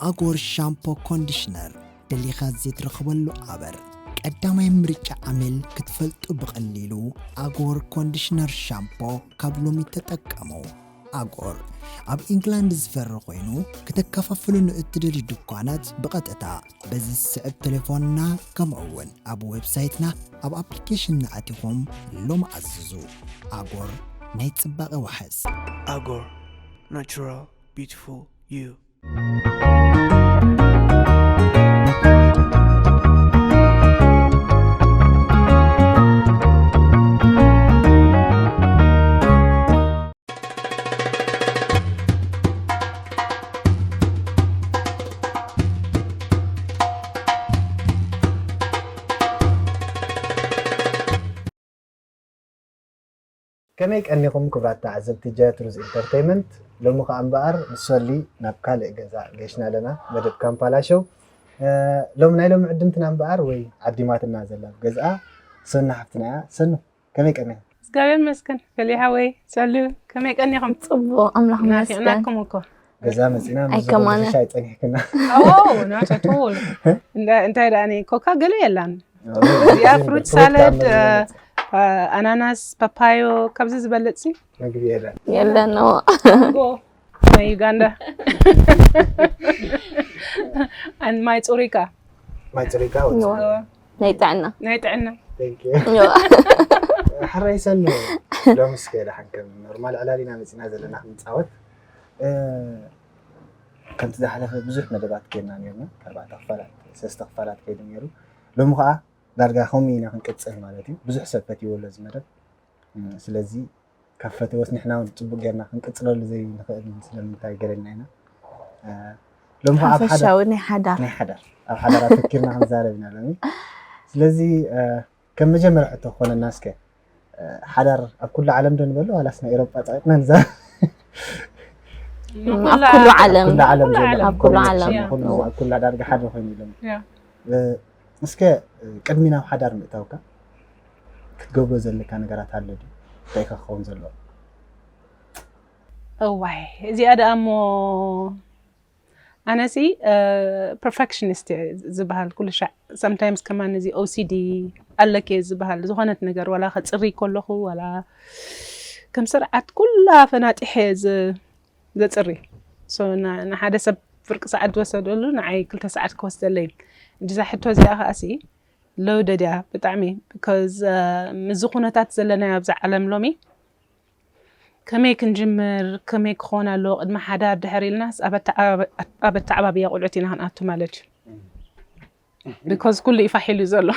ኣጎር ሻምፖ ኮንዲሽነር ደሊኻ ዘይትረኽበሉ ኣበር ቀዳማይ ምርጫ ዓሚል ክትፈልጡ ብቐሊሉ ኣጎር ኮንዲሽነር ሻምፖ ካብ ሎሚ ተጠቀሙ ኣጎር ኣብ ኢንግላንድ ዝፈሪ ኮይኑ ከተከፋፍሉ ንእትደልዩ ድኳናት ብቐጥታ በዚ ዝስዕብ ተሌፎንና ከምኡ እውን ኣብ ዌብሳይትና ኣብ ኣፕሊኬሽንና ኣቲኹም ሎም ኣዝዙ ኣጎር ናይ ፅባቐ ዋሕስ ኣጎር ናራል ቢትፉል ዩ ከመይ ቀኒኹም ክብራት ተዓዘብቲ ጃያትሩዝ ኢንተርተይመንት ሎሚ ከኣ እምበኣር ምስ ሶሊ ናብ ካልእ ገዛ ገሽና ኣለና መደብ ካምፓላሸው ሎሚ ናይ ሎሚ ዕድምትና እምበኣር ወይ ዓዲማትና ዘላ ገዝኣ ሰኑ ሓፍትና እያ ሰኑ ከመይ ቀኒኹም? እግዚኣብሔር ይመስገን ገሌ ሓወይ ጸሉ ከመይ ቀኒኹም? ጽቡቕ ኣምላኽ ይመስገን። ናፊቕናኩም እኮ ገዛ መጺና ኣይ ምስ ከማነ። ዝኾነ ሻይ ጸኒሕክና ኣዎ not at all እንዳ- እንታይ ደኣ እኔ ኮካ ገለ የላን እዚኣ ፍሩት ሳለድ ኣናናስ ፓፓዮ ካብዚ ዝበለጽ ሲ መግቢ የለን የለን እዎ ማንጎ ናይ ዩጋንዳ ኣን ማይ ፅሩይካ ማይ ፅሪካ እዋ፣ ናይ ጥዕና ናይ ጥዕና እዋ፣ ሕራይ ሰኑ ሎሚ እስከ ደሓን ከም ኖርማል ዕላል ኢና መፂና ዘለና ክንፃወት እ፣ ከምቲ ዝሓለፈ ብዙሕ መደባት ጌርና ነርና ኣርባዕተ ክፋላት ሰለስተ ክፋላት ከይዱ ነይሩ ሎሚ ከዓ ዳርጋ ከምኡ ኢና ክንቅፅል ማለት እዩ ብዙሕ ሰብ ፈትይዎ ኣሎ እዚ መደብ እ፣ ስለዚ ካብ ፈተወስ ንሕና ውን ጽቡቅ ጌርና ክንቅጽለሉ ዘይንኽእል ስለምንታይ ገለ ኢልና ኢና ሎሚ ከኣ ኣብ ሓዳር ናይ ሓዳር ናይ ሓዳር ኣብ ሓዳር ኣተኪርና ክንዛረብ ኢና ሎሚ ስለዚ ከም መጀመርያ ሕቶ ክኾነና እስከ ሓዳር ኣብ ኩሉ ዓለም ዶ ንበሎ ዋላስ ናይ ኤሮጳ ጸቂጥና ንዛ ኣብ ኩሉ ዓለም ኣብ ኩሉ ዓለም ኣብ ኩሉ ዳርጋ ሓደ ኮይኑ ኢሎም እስከ ቅድሚ ናብ ሓዳር ምእታውካ ክትገብሮ ዘለካ ነገራት ኣሎ ድዩ? እንታይ ከ ክኸውን ዘለዎ? እዋይ እዚኣ ደኣ እሞ ኣነ ሲ ፐርፌክሽኒስት እየ ዝበሃል ኩሉ ሻዕ ሰምታይምስ ከማን እዚ ኦሲዲ ኣለኪ እየ ዝበሃል ዝኾነት ነገር ዋላ ከፅርይ ከለኹ ዋላ ከም ስርዓት ኩላ ፈናጢሐ እየ ዘጽሪ ሶ ን- ንሓደ ሰብ ፍርቂ ሰዓት ዝወሰደሉ ንዓይ ክልተ ሰዓት ክወስደለይ እዛ ሕቶ እዚኣ ከኣሲ ሎደድ እያ ብጣዕሚ because ምስዚ ኩነታት ዘለናዮ ኣብዛ ዓለም ሎሚ ከመይ ክንጅምር ከመይ ክኾን ኣለዎ ቅድሚ ሓዳር ድሕር ኢልናስ ኣብ ኣተዓባብ- ኣብ ኣተዓባብያ ቁልዑት ኢና ክንኣቱ ማለት እዩ because ኩሉ እዩ ፋሕ ኢሉ ዘሎ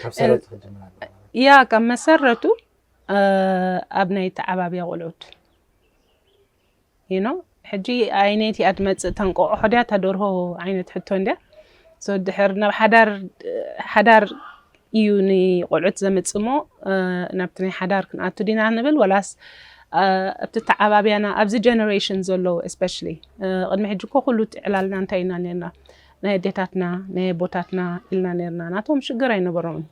ካብ ሰረቱ ክጅምር ኣለዎ ማለት ያ ካብ መሰረቱ ኣብ ናይ ተዓባብያ ቆልዑት you know ሕጂ ኣይነይቲ እያ ትመጽእ ተንቆቆሖ ድያ ተደርሆ ዓይነት ሕቶ እንድያ so ድሕር ናብ ሓዳር ሓዳር እዩ ንቆልዑት ዘምጽሞ ናብቲ ናይ ሓዳር ክንኣቱ ዲና ንብል ወላስ ኣብቲ ተዓባብያና ኣብዚ ጀነሬሽን ዘሎ ስፔሻሊ ቅድሚ ሕጂ እኮ ኩሉ ዕላልና እንታይ ኢና ነርና ናይ ኣዴታትና ናይ ኣቦታትና ኢልና ነርና ናቶም ሽግር ኣይነበሮምን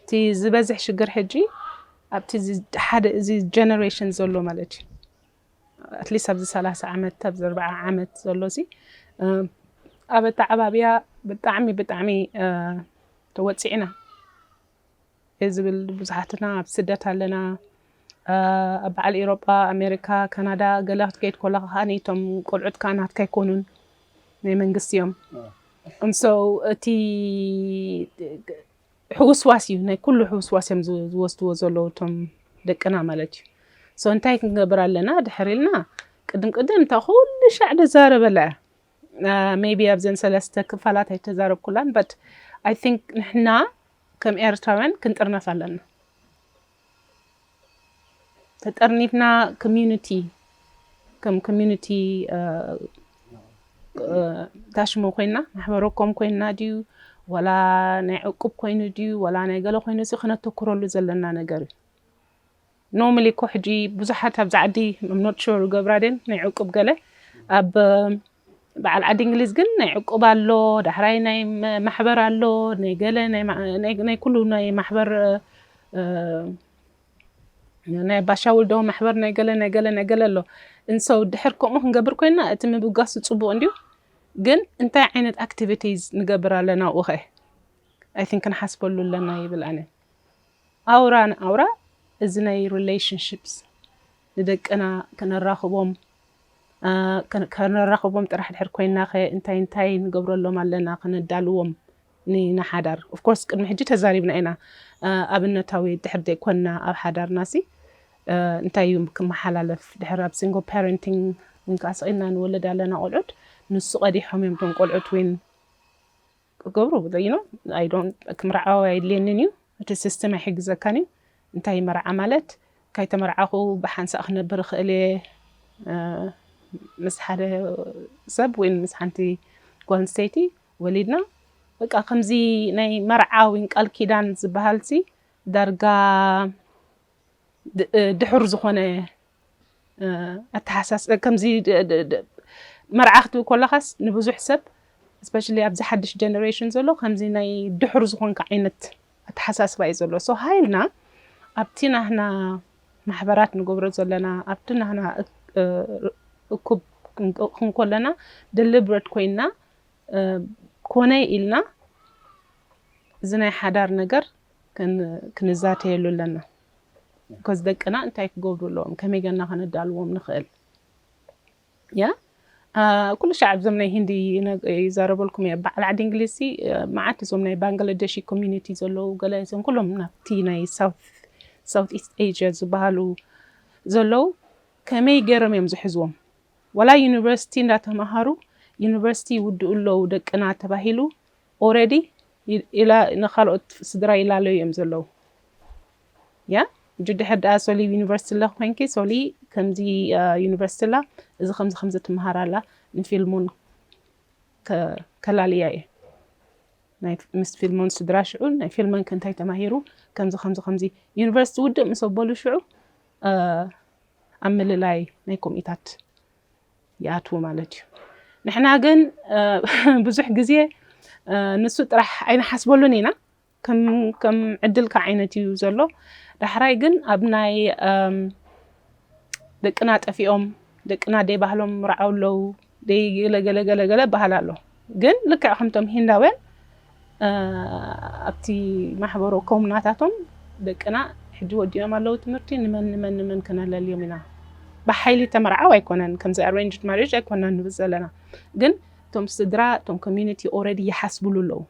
እቲ ዝበዝሕ ሽግር ሕጂ ኣብቲ ሓደ እዚ ጀነሬሽን ዘሎ ማለት እዩ ኣትሊስት ኣብዚ ሰላሳ ዓመት ኣብዚ ኣርባዓ ዓመት ዘሎ እዚ ኣብ ኣተዓባብያ ብጣዕሚ ብጣዕሚ ተወፂዕና ዝብል ብዙሓትና ኣብ ስደት ኣለና ኣብ በዓል ኢሮጳ ኣሜሪካ ካናዳ ገለ ክትከይድ ኮለካ ከኣ እቶም ቆልዑት ከኣ ናትካ ኣይኮኑን ናይ መንግስቲ እዮም እንሶ እቲ ሕውስዋስ እዩ ናይ ኩሉ ሕውስዋስ እዮም ዝወስድዎ ዘለዉ እቶም ደቅና ማለት እዩ ሰው እንታይ ክንገብር ኣለና ድሕር ኢልና ቅድም ቅድም እታ ኩሉ ሻዕ ደዛረበላ እያ ሜቢ ኣብዘን ሰለስተ ክፋላት ኣይተዛረብኩላን በት ኣይ ቲንክ ንሕና ከም ኤርትራውያን ክንጥርነፍ ኣለና ተጠርኒፍና ኮሚዩኒቲ ከም ኮሚዩኒቲ ታሽሙ ኮይና ማሕበረኮም ኮይና ድዩ ወላ ናይ ዕቁብ ኮይኑ ድዩ ወላ ናይ ገለ ኮይኑ እዚ ክነተኩረሉ ዘለና ነገር እዩ ኖርማሊ እኮ ሕጂ ብዙሓት ኣብዚ ዓዲ ኖት ሹር ገብራዴን ናይ ዕቁብ ገለ ኣብ በዓል ዓዲ እንግሊዝ ግን ናይ ዕቁብ ኣሎ ዳሕራይ ናይ ማሕበር ኣሎ ናይ ገለ ናይ ኩሉ ናይ ማሕበር ናይ ባሻ ውልዶ ማሕበር ናይ ገለ ናይ ገለ ናይ ገለ ኣሎ እንሰው ድሕር ከምኡ ክንገብር ኮይና እቲ ምብጋሱ ፅቡቅ እንድዩ ግን እንታይ ዓይነት ኣክቲቪቲዝ ንገብር ኣለና ኣብኡ ከ ኣይ ቲንክ ክንሓስበሉ ኣለና ይብል ኣነ ኣውራ ንኣውራ እዚ ናይ ሪሌሽንሽፕስ ንደቅና ከነራኽቦም ከነራኽቦም ጥራሕ ድሕር ኮይናኸ እንታይ እንታይ ንገብረሎም ኣለና ከነዳልዎም ንሓዳር of course ቅድሚ ሕጂ ተዛሪብና ኢና ኣብነታዊ ድሕር ዘይኮንና ኣብ ሓዳርናሲ እንታይ እዩ ክመሓላለፍ ድሕር ኣብ single parenting ዊን ከኣ ስቂልና ንወልድ ኣለና ቆልዑት ንሱ ቀዲሖም እዮም እቶም ቆልዑት ዊን ክገብሩ ዘይኖም ኣይ ዶንት ክምርዓው ኣየድልየንን እዩ እቲ ስስትም ኣይሕግዘካን እዩ እንታይ እዩ መርዓ ማለት ካይተመርዓኹ ብሓንሳእ ክነብር ይኽእል እየ ምስ ሓደ ሰብ ወይ ምስ ሓንቲ ጓል ኣንስተይቲ ወሊድና በቃ ከምዚ ናይ መርዓ ወይ ቃል ኪዳን ዝበሃልሲ ዳርጋ ድሑር ዝኾነ ኣተሓሳስ ከምዚ መርዓ ክትብል ኮለኻስ ንብዙሕ ሰብ ስፔሻሊ ኣብዚ ሓድሽ ጀነሬሽን ዘሎ ከምዚ ናይ ድሑር ዝኾንካ ዓይነት ኣተሓሳስባ እዩ ዘሎ ሶ ሃይልና ኣብቲ ናህና ማሕበራት ንገብሮ ዘለና ኣብቲ ናህና እኩብ ክንኮለና ደሊብረት ኮይና ኮነ ኢልና እዚ ናይ ሓዳር ነገር ክንዛተየሉ ኣለና ቢኮዝ ደቅና እንታይ ክገብሩ ኣለዎም ከመይ ገና ከነዳልዎም ንኽእል ያ ኩሉ ሻዕ እዞም ናይ ሂንዲ ይዛረበልኩም እየ በዓል ዓዲ እንግሊዝ ሲ መዓት እዞም ናይ ባንግላደሺ ኮሚኒቲ ዘለዉ ገለ እዞም ኩሎም ናብቲ ናይ ሳውት ኢስት ኤዥያ ዝበሃሉ ዘለዉ ከመይ ገይሮም እዮም ዝሕዝዎም ዋላ ዩኒቨርሲቲ እንዳተምሃሩ ዩኒቨርሲቲ ይውድኡ ኣለዉ ደቅና ተባሂሉ ኦረዲ ኢላ ንካልኦት ስድራ ይላለዩ እዮም ዘለዉ ያ እጅ ድሕር ድኣ ሶሊ ዩኒቨርሲቲ ለኽ ኮይንኪ ሶሊ ከምዚ ዩኒቨርሲቲ ላ እዚ ከምዚ ከምዚ ትምሃር ኣላ ንፊልሙን ከላልያ እየ ናይ ምስ ፊልሙን ስድራ ሽዑ ናይ ፊልመን ከንታይ ተማሂሩ ከምዚ ከምዚ ከምዚ ዩኒቨርሲቲ ውድእ ምስ ኣበሉ ሽዑ ኣብ ምልላይ ናይ ኮሚታት ይኣትዉ ማለት እዩ። ንሕና ግን ብዙሕ ግዜ ንሱ ጥራሕ ኣይንሓስበሉን ኢና። ከም ዕድልካ ዓይነት እዩ ዘሎ። ዳሕራይ ግን ኣብ ናይ ደቅና ጠፊኦም ደቅና ደይ ባህሎም ምርዓው ኣለዉ ደይ ገለገለገለገለ በሃል ኣሎ ግን ልክዕ ከምቶም ሂንዳውያን ኣብቲ ማሕበሮ ኮም ናታቶም ደቅና ሕጂ ወዲኦም ኣለዉ ትምህርቲ ንመን ንመን ንመን ክነለልዮም ኢና ብሓይሊ ተመርዓው ኣይኮነን ከምዚ ኣሬንጅድ ማሬጅ ኣይኮና ንብል ዘለና ግን እቶም ስድራ እቶም ኮሚኒቲ ኦረዲ ይሓስብሉ ኣለዉ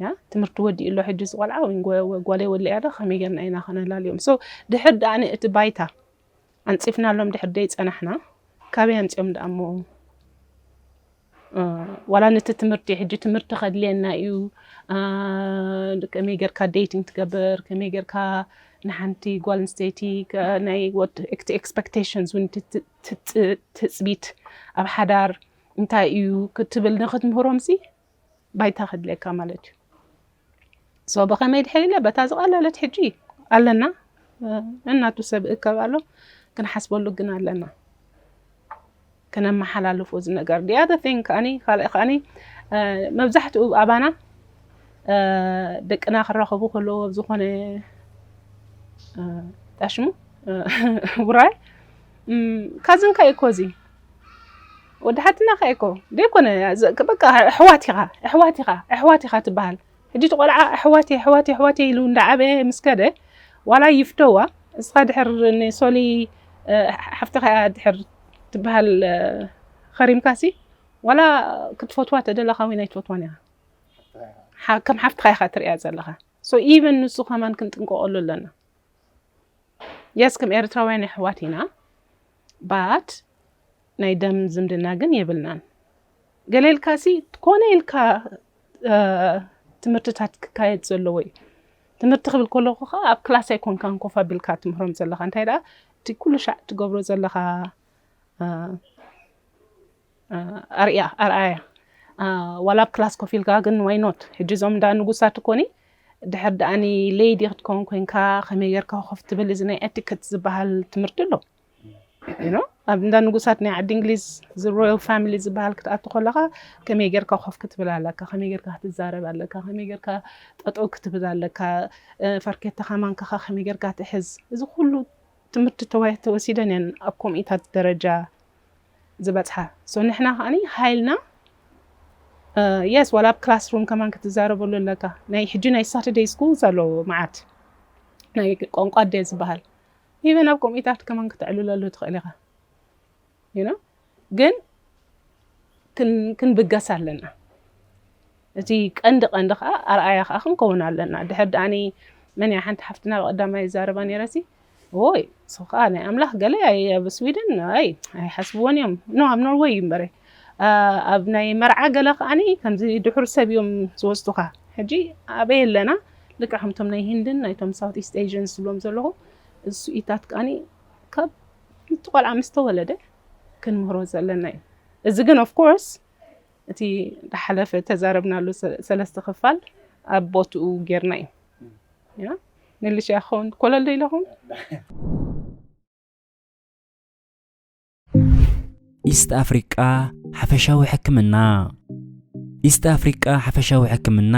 ያ ትምህርቲ ወዲኡ ኣሎ ሕጂ ዝቆልዓ ወይ ጓለይ ወለያ ዶ ከመይ ጌርና ኢና ክነላልዮም ሶ ድሕር ድኣ እቲ ባይታ ኣንጺፍናሎም ድሕር ደይ ጸናሕና ካበይ ኣምጺኦም ድኣ እሞ ዋላ ነቲ ትምህርቲ ሕጂ ትምህርቲ ከድልየና እዩ ከመይ ጌርካ ዴቲንግ ትገብር ከመይ ጌርካ ንሓንቲ ጓል ኣንስተይቲ ናይ እቲ ኤክስፐክቴሽንስ እውን ትፅቢት ኣብ ሓዳር እንታይ እዩ ክትብል ንክትምህሮም ሲ ባይታ ከድልየካ ማለት እዩ ሶ ብኸመይ ድሕሪለ በታ ዝቐለለት ሕጂ ኣለና እናቱ ሰብ እከብ ኣሎ ክንሓስበሉ ግን ኣለና ክነመሓላልፎ እዚ ነገር ዲያ ቲንግ ከዓኒ ካልእ ከዓኒ መብዛሕትኡ ኣባና ደቅና ክራኸቡ ከለዎ ኣብ ዝኾነ ጣሽሙ ውራይ ካዝንካ እዩ ኮዚ ወዲ ሓትና ከ እኮ ዘይኮነ በቃ ኣሕዋት ኢኻ ኣሕዋት ኢኻ ኣሕዋት ኢኻ ትበሃል ሕጂ እቲ ቆልዓ ኣሕዋት ኣሕዋት ኣሕዋት ኢሉ እንዳዓበየ ምስ ከደ ዋላ ይፍተዋ እስኻ ድሕር ንሶሊ ሓፍትኻ እያ ድሕር ትበሃል ኸሪምካሲ ዋላ ክትፈትዋ ተደለኻ እውን ኣይትፈትዋን ኢኻ ከም ሓፍትኻ ኢኻ ትሪእያ ዘለኻ ሶ ኢቨን ንሱ ከማን ክንጥንቀቀሉ ኣለና የስ ከም ኤርትራውያን ኣሕዋት ኢና ባት ናይ ደም ዝምድና ግን የብልናን ገለ ኢልካሲ ኮነ ኢልካ ትምህርትታት ክካየድ ዘለዎ እዩ ትምህርቲ ክብል ከለኹ ከዓ ኣብ ክላስ ኣይኮንካን ኮፍ ኣቢልካ ትምህሮም ዘለካ እንታይ ደኣ እቲ ኩሉ ሻዕ ትገብሮ ዘለካ ኣርያ ኣርኣያ ዋላ ኣብ ክላስ ኮፍ ኢልካ ግን ዋይኖት ሕጂ እዞም እንዳ ንጉሳት ኮኒ ድሕር ደኣኒ ለይዲ ክትከውን ኮንካ ከመይ ጌርካ ኮፍ ትብል እዚ ናይ ኤቲክት ዝበሃል ትምህርቲ ኣሎ ኣብ እንዳ ንጉሳት ናይ ዓዲ እንግሊዝ ሮያል ፋሚሊ ዝበሃል ክትኣቱ ከለኻ ከመይ ጌርካ ኮፍ ክትብል ኣለካ፣ ከመይ ጌርካ ክትዛረብ ኣለካ፣ ከመይ ጌርካ ጠጠው ክትብል ኣለካ፣ ፋርኬታኻ ማንካኻ ከመይ ጌርካ ትሕዝ፣ እዚ ኩሉ ትምህርቲ ተወሲደን እየን ኣብ ኮሚኢታት ደረጃ ዝበፅሓ። ሶ ንሕና ከዓ ሃይልና የስ ዋላ ኣብ ክላስ ሩም ከማን ክትዛረበሉ ኣለካ። ናይ ሕጂ ናይ ሳተርደይ ስኩልስ ኣለዎ መዓት ናይ ቋንቋ ኣደ ዝበሃል ኢቨን ኣብ ኮሚታት ከማን ክተዕልለሉ ትኽእል ኢኻ ዩኖ ግን ክንብገስ ኣለና እቲ ቀንዲ ቀንዲ ከዓ ኣርኣያ ከዓ ክንከውን ኣለና ድሕር ድኣኒ መን እያ ሓንቲ ሓፍትና ብቀዳማይ ይዛረባ ነረሲ ኦይ እሱ ከዓ ናይ ኣምላኽ ገለ ኣብ ስዊድን ኣይ ኣይሓስብዎን እዮም ኖ ኣብ ኖርወይ እዩ እምበረ ኣብ ናይ መርዓ ገለ ከዓኒ ከምዚ ድሑር ሰብ እዮም ዝወስዱኻ ሕጂ ኣበይ ኣለና ልክዕ ከምቶም ናይ ሂንድን ናይቶም ሳውት ኢስት ኤዥን ዝብሎም ዘለኹ እዚ ኢታት ከዓኒ ካብ እቲ ቆልዓ ምስ ተወለደ ክንምህሮ ዘለና እዩ እዚ ግን ኦፍ ኮርስ እቲ ዳሓለፈ ተዛረብናሉ ሰለስተ ክፋል ኣብ ቦትኡ ጌርና እዩ ያ መልሻ ክኸውን ኮለል ኢለኹም ኢስት ኣፍሪቃ ሓፈሻዊ ሕክምና ኢስት ኣፍሪቃ ሓፈሻዊ ሕክምና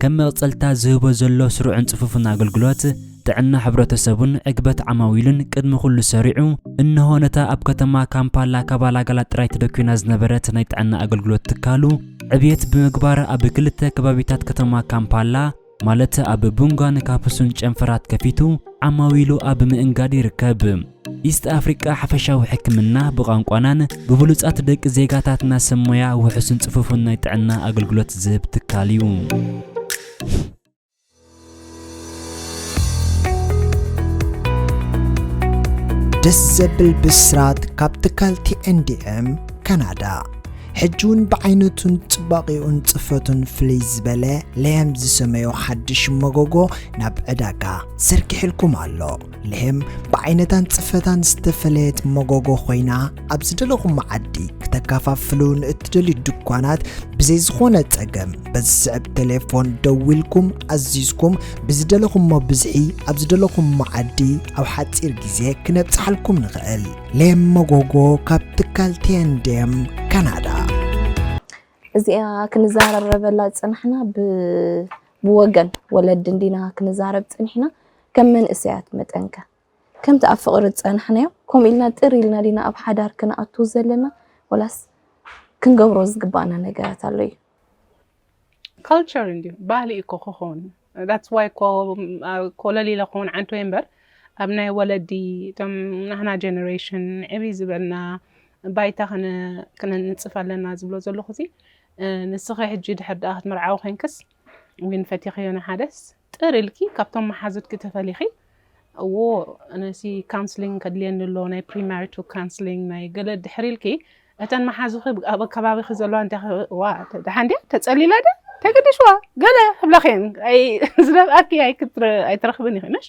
ከም መቕጸልታ ዝህቦ ዘሎ ስሩዕን ጽፉፍን ኣገልግሎት ጥዕና ሕብረተሰቡን ዕግበት ዓማዊሉን ቅድሚ ኩሉ ሰሪዑ እነሆ ነታ ኣብ ከተማ ካምፓላ ካባላጋላ ጥራይ ተደኪና ዝነበረት ናይ ጥዕና ኣገልግሎት ትካሉ ዕብየት ብምግባር ኣብ ክልተ ከባቢታት ከተማ ካምፓላ ማለት ኣብ ቡንጋን ካፕሱን ጨንፈራት ከፊቱ ዓማዊሉ ኣብ ምእንጋድ ይርከብ። ኢስት ኣፍሪቃ ሓፈሻዊ ሕክምና ብቋንቋናን ብብሉጻት ደቂ ዜጋታትና ሰብ ሞያ ውሑስን ጽፉፍን ናይ ጥዕና ኣገልግሎት ዝህብ ትካል እዩ። ደስ ዘብል ብስራት ካብ ትካል ቲኤንዲኤም ካናዳ ሕጂ እውን ብዓይነቱን ጽባቂኡን ጽፈቱን ፍልይ ዝበለ ለየም ዝሰመዮ ሓድሽ መጎጎ ናብ ዕዳጋ ዘርጊሕልኩም ኣሎ። ለየም ብዓይነታን ጽፈታን ዝተፈለየት መጎጎ ኮይና ኣብ ዝደለኹም መዓዲ ክተከፋፍሉ ንእትደልዩ ድኳናት ብዘይ ዝኾነ ጸገም በዚ ዝስዕብ ቴሌፎን ደዊልኩም ኣዚዝኩም ብዝደለኹሞ ብዝሒ ኣብ ዝደለኹም መዓዲ ኣብ ሓጺር ግዜ ክነብጽሓልኩም ንኽእል። ሌም መጎጎ ካብ ትካል ቴንዴም ካናዳ እዚኣ ክንዛረበላ ዝጸናሕና ብወገን ወለዲ እንዲና ክንዛረብ ጸኒሕና ከም መንእሰያት መጠንከ ከምቲ ኣብ ፍቕሪ ዝጸናሕናዮ ከምኡ ኢልና ጥር ኢልና ዲና ኣብ ሓዳር ክንኣቱ ዘለና ወላስ ክንገብሮ ዝግባኣና ነገራት ኣሎ እዩ ካልቸር እንዲዩ ባህሊ እዩ እኮ ክኸውን ዳትስ ዋይ እኮ ኮለል ኢለ ክኸውን ዓንቱ እየ እምበር ኣብ ናይ ወለዲ እቶም ናህና ጀነሬሽን ዕብይ ዝበልና ባይታ ክንንፅፍ ኣለና ዝብሎ ዘለኹ እዚ ንስኺ ሕጂ ድሕር ድኣ ክትምርዓዊ ኮይንክስ ዊን ፈቲኽዮ ንሓደስ ጥር ኢልኪ ካብቶም መሓዙትኪ ተፈሊኺ እዎ ኣነሲ ካውንስሊንግ ከድልየኒ ኣሎ ናይ ፕሪማሪቱ ካውንስሊንግ ናይ ገለ ድሕሪ ኢልኪ እተን መሓዙኺ ኣብ ከባቢኺ ዘለዋ እንታይ ዋ ደሓን ድያ ተጸሊላ ድያ ተገዲሽዋ ገለ ክብላኺን ዝነብኣኪ ኣይትረኽብን ኢኺ ነሽ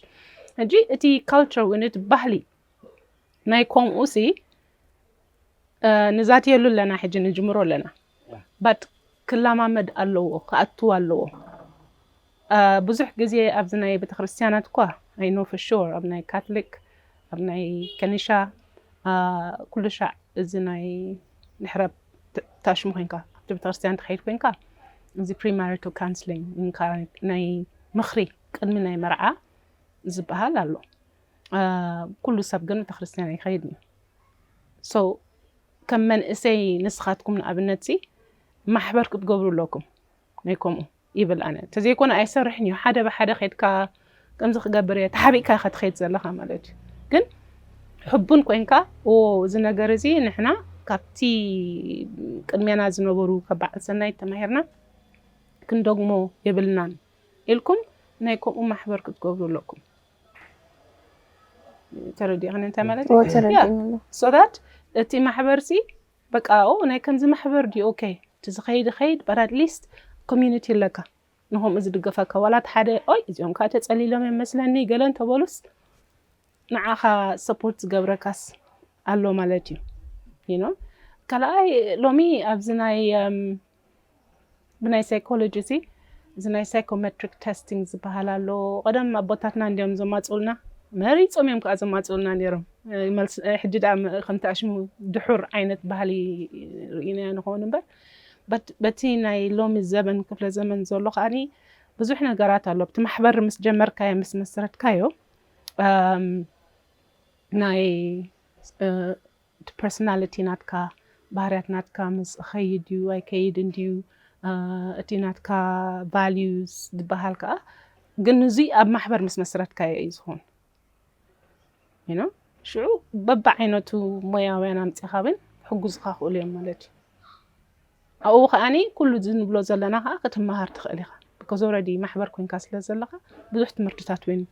ሕጂ እቲ ካልቸር ወይኒ እቲ ባህሊ ናይ ከምኡ ሲ ንዛትየሉ ኣለና ሕጂ ንጅምሮ ኣለና ባት ክላማመድ ኣለዎ ክኣትው ኣለዎ ብዙሕ ግዜ ኣብዚ ናይ ቤተክርስትያናት እኳ ኣይኖ ፍሹር ኣብ ናይ ካትሊክ ኣብ ናይ ከኒሻ ኩሉ ሻዕ እዚ ናይ ድሕረ ታሽሙ ኮንካ ኣብቲ ቤተክርስትያን ትኸይድ ኮንካ እዚ ፕሪማሪቶ ካንስሊንግ ናይ ምኽሪ ቅድሚ ናይ መርዓ ዝበሃል ኣሎ ኩሉ ሰብ ግን ቤተክርስትያን ኣይኸይድን so ከም መንእሰይ ንስኻትኩም ንኣብነት ሲ ማሕበር ክትገብሩ ኣለኩም ናይ ከምኡ ይብል ኣነ እንተዘይኮነ ኣይሰርሕን እዩ ሓደ ብሓደ ከድካ ከምዚ ክገብር እየ ተሓቢእካ ኢኻ ትኸይድ ዘለኻ ማለት እዩ ግን ሕቡን ኮንካ እዚ ነገር እዚ ንሕና ካብቲ ቅድሜና ዝነበሩ ካብ በዓል ሰናይ ተማሂርና ክንደግሞ የብልናን ኢልኩም ናይ ከምኡ ማሕበር ክትገብሩ ኣለኩም ተረዲእኽን እንታይ ማለት እዩ? ተረዲእኒ ኣሎ። so that እቲ ማሕበርሲ በቃ ኦ ናይ ከምዚ ማሕበር ድዩ ኦኬ እቲ ዝኸይድ ኸይድ በር ኣትሊስት ኮሚዩኒቲ ኣለካ ንከምኡ ዝድገፈካ ዋላ እቲ ሓደ ኦይ እዚኦም ከዓ ተፀሊሎም እዮም መስለኒ ገለ እንተበሉስ ንዓኻ ሰፖርት ዝገብረካስ ኣሎ ማለት እዩ ይኖ ካልኣይ ሎሚ ኣብዚ ናይ እም፣ ብናይ ሳይኮሎጂ እዚ እዚ ናይ ሳይኮመትሪክ ተስቲንግ ዝበሃል ኣሎ። ቀደም ኣቦታትና እንድዮም ዘማጽኡልና፣ መሪጾም እዮም ከኣ ዘማጽኡልና ነይሮም። መልሲ ሕጂ ደኣ ከምቲ ኣሽሙ ድሑር ዓይነት ባህሊ ርኢናዮ ንኸውን እምበር በቲ ናይ ሎሚ ዘበን ክፍለ ዘመን ዘሎ ከኣኒ ብዙሕ ነገራት ኣሎ። ብቲ ማሕበር ምስ ጀመርካዮ ምስ መስረትካዮ ናይ እቲ ፐርሰናሊቲ ናትካ ባህርያት ናትካ ምስ እኸይድ ድዩ ኣይከይድን ድዩ እቲ ናትካ ቫልዩስ ዝበሃል ከኣ ግን እዙይ ኣብ ማሕበር ምስ መስረትካዮ እዩ ዝኾን ይኖ ሽዑ በብዓይነቱ ሞያውያን ኣምፂኻ ውን ክሕጉዝኻ ክእሉ እዮም ማለት እዩ። ኣብኡ ከኣ ኩሉ እዚ ንብሎ ዘለና ከኣ ክትመሃር ትኽእል ኢኻ because already ማሕበር ኮንካ ስለ ዘለኻ ብዙሕ ትምህርትታት ውን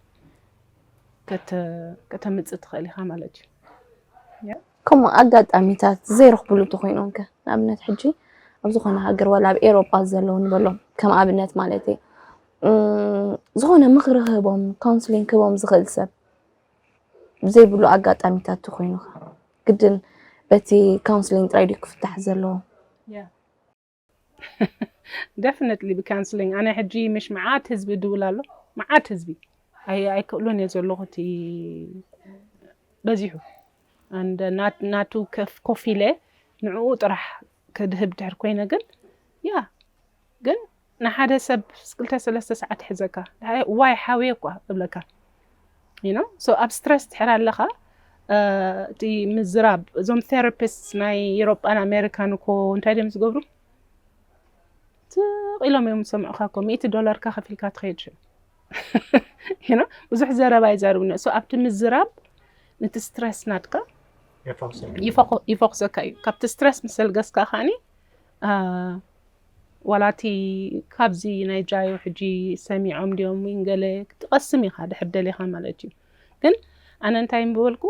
ከተምጽእ ትኽእል ኢኻ ማለት እዩ። ከምኡ ኣጋጣሚታት ዘይረኽብሉ እንተኾይኖም ከ ንኣብነት ሕጂ ኣብ ዝኾነ ሃገር ዋላ ኣብ ኤሮጳ ዘለዉ ንበሎም ከም ኣብነት ማለት እዩ ዝኾነ ምኽሪ ክህቦም ካውንስሊንግ ክህቦም ዝኽእል ሰብ ዘይብሉ ኣጋጣሚታት ተኾይኑ ግድን በቲ ካውንስሊንግ ጥራይ ድዩ ክፍታሕ ዘለዎ? ደፍነትሊ ብካንስሊንግ ኣነ ሕጂ ምሽ መዓት ህዝቢ ድውል ኣሎ መዓት ህዝቢ ኣይክእሉን እየ ዘለኹ እቲ በዚሑ ናቱ ኮፍ ኢለ ንዕኡ ጥራሕ ከድህብ ድሕር ኮይነ ግን ያ ግን ንሓደ ሰብ ክልተ ሰለስተ ሰዓት ይሕዘካ ዋይ ሓውየ እኳ እብለካ ዩኖ ሶ ኣብ ስትረስ ድሕር ኣለኻ እቲ ምዝራብ እዞም ቴራፒስት ናይ ኤሮጳን ኣሜሪካን እኮ እንታይ ድም ዝገብሩ ትቕ ኢሎም እዮም ዝሰምዑካ እኮ ሚእቲ ዶላርካ ከፊልካ ትኸይድ ሽም you know ብዙሕ ዘረባ ይዛርብኒ ሶ ኣብቲ ምዝራብ ነቲ ስትረስ ናትካ ይፈኩሰካ እዩ ካብቲ ስትረስ ምስ ዘልገስካ ከዓኒ ዋላ እቲ ካብዚ ናይ ጃዮ ሕጂ ሰሚዖም ድዮም ወይ ገለ ክትቐስም ኢኻ ድሕር ደሊኻ ማለት እዩ ግን ኣነ እንታይ ምበልኩ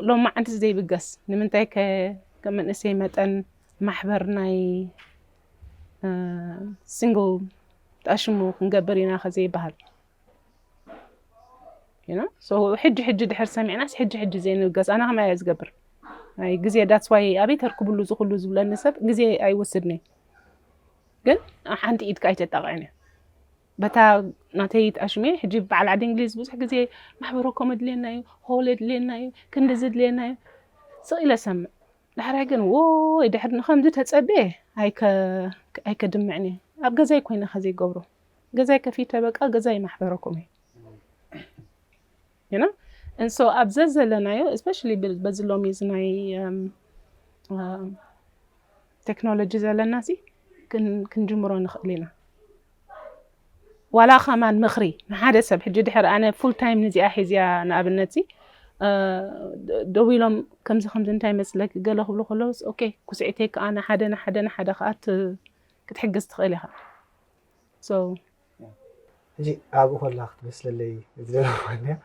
ሎም መዓንቲ ዘይብገስ ንምንታይ ከ ከም መንእሰይ መጠን ማሕበር ናይ ሲንግል ጣሽሙ ክንገብር ኢና ከዘይበሃል ሕጂ ሕጂ ድሕር ሰሚዕናስ ሕጂ ሕጂ ዘይንገዝ ኣነ ከመይ እየ ዝገብር ናይ ግዜ ዳትስዋይ ኣበይ ተርክብሉ ዝኩሉ ዝብለኒ ሰብ ግዜ ኣይወስድኒ ግን ሓንቲ ኢድካ ኣይተጣቕዕን እዩ በታ ናተይ ጣሽሜ ሕጂ በዓል ዓዲ እንግሊዝ ብዙሕ ግዜ ማሕበረ ኮም ድልየና እዩ ሆል ድልየና እዩ ክንዲ ዝድልየና እዩ ስቕ ኢለ ሰምዕ ዳሕራይ ግን ዎይ ድሕሪ ንከምዚ ተጸብየ ኣይከ ኣይከድምዕን እየ ኣብ ገዛይ ኮይነ ከ ዘይገብሮ ገዛይ ከፊተ በቃ ገዛይ ማሕበረኩም እዩ ዩና እንሶ ኣብ ዘዘለናዮ ስፔሻሊ በዚ ሎሚ እዚ ናይ ቴክኖሎጂ ዘለና ሲ ክንጅምሮ ንኽእል ኢና ዋላ ከማን ምክሪ ንሓደ ሰብ ሕጂ ድሕር ኣነ ፉል ታይም ንዚኣ ሒዚያ ንኣብነትዚ ደው ኢሎም ከምዚ ከምዚ እንታይ መስለኪ ገለ ክብሉ ከለውስ ኦኬ ኩስዒተይ ከዓ ንሓደ ንሓደ ንሓደ ከዓ ክትሕግዝ ትኽእል ኢኻ ሕጂ ኣብኡ ከላ ክትመስለለይ ዝደለኹያ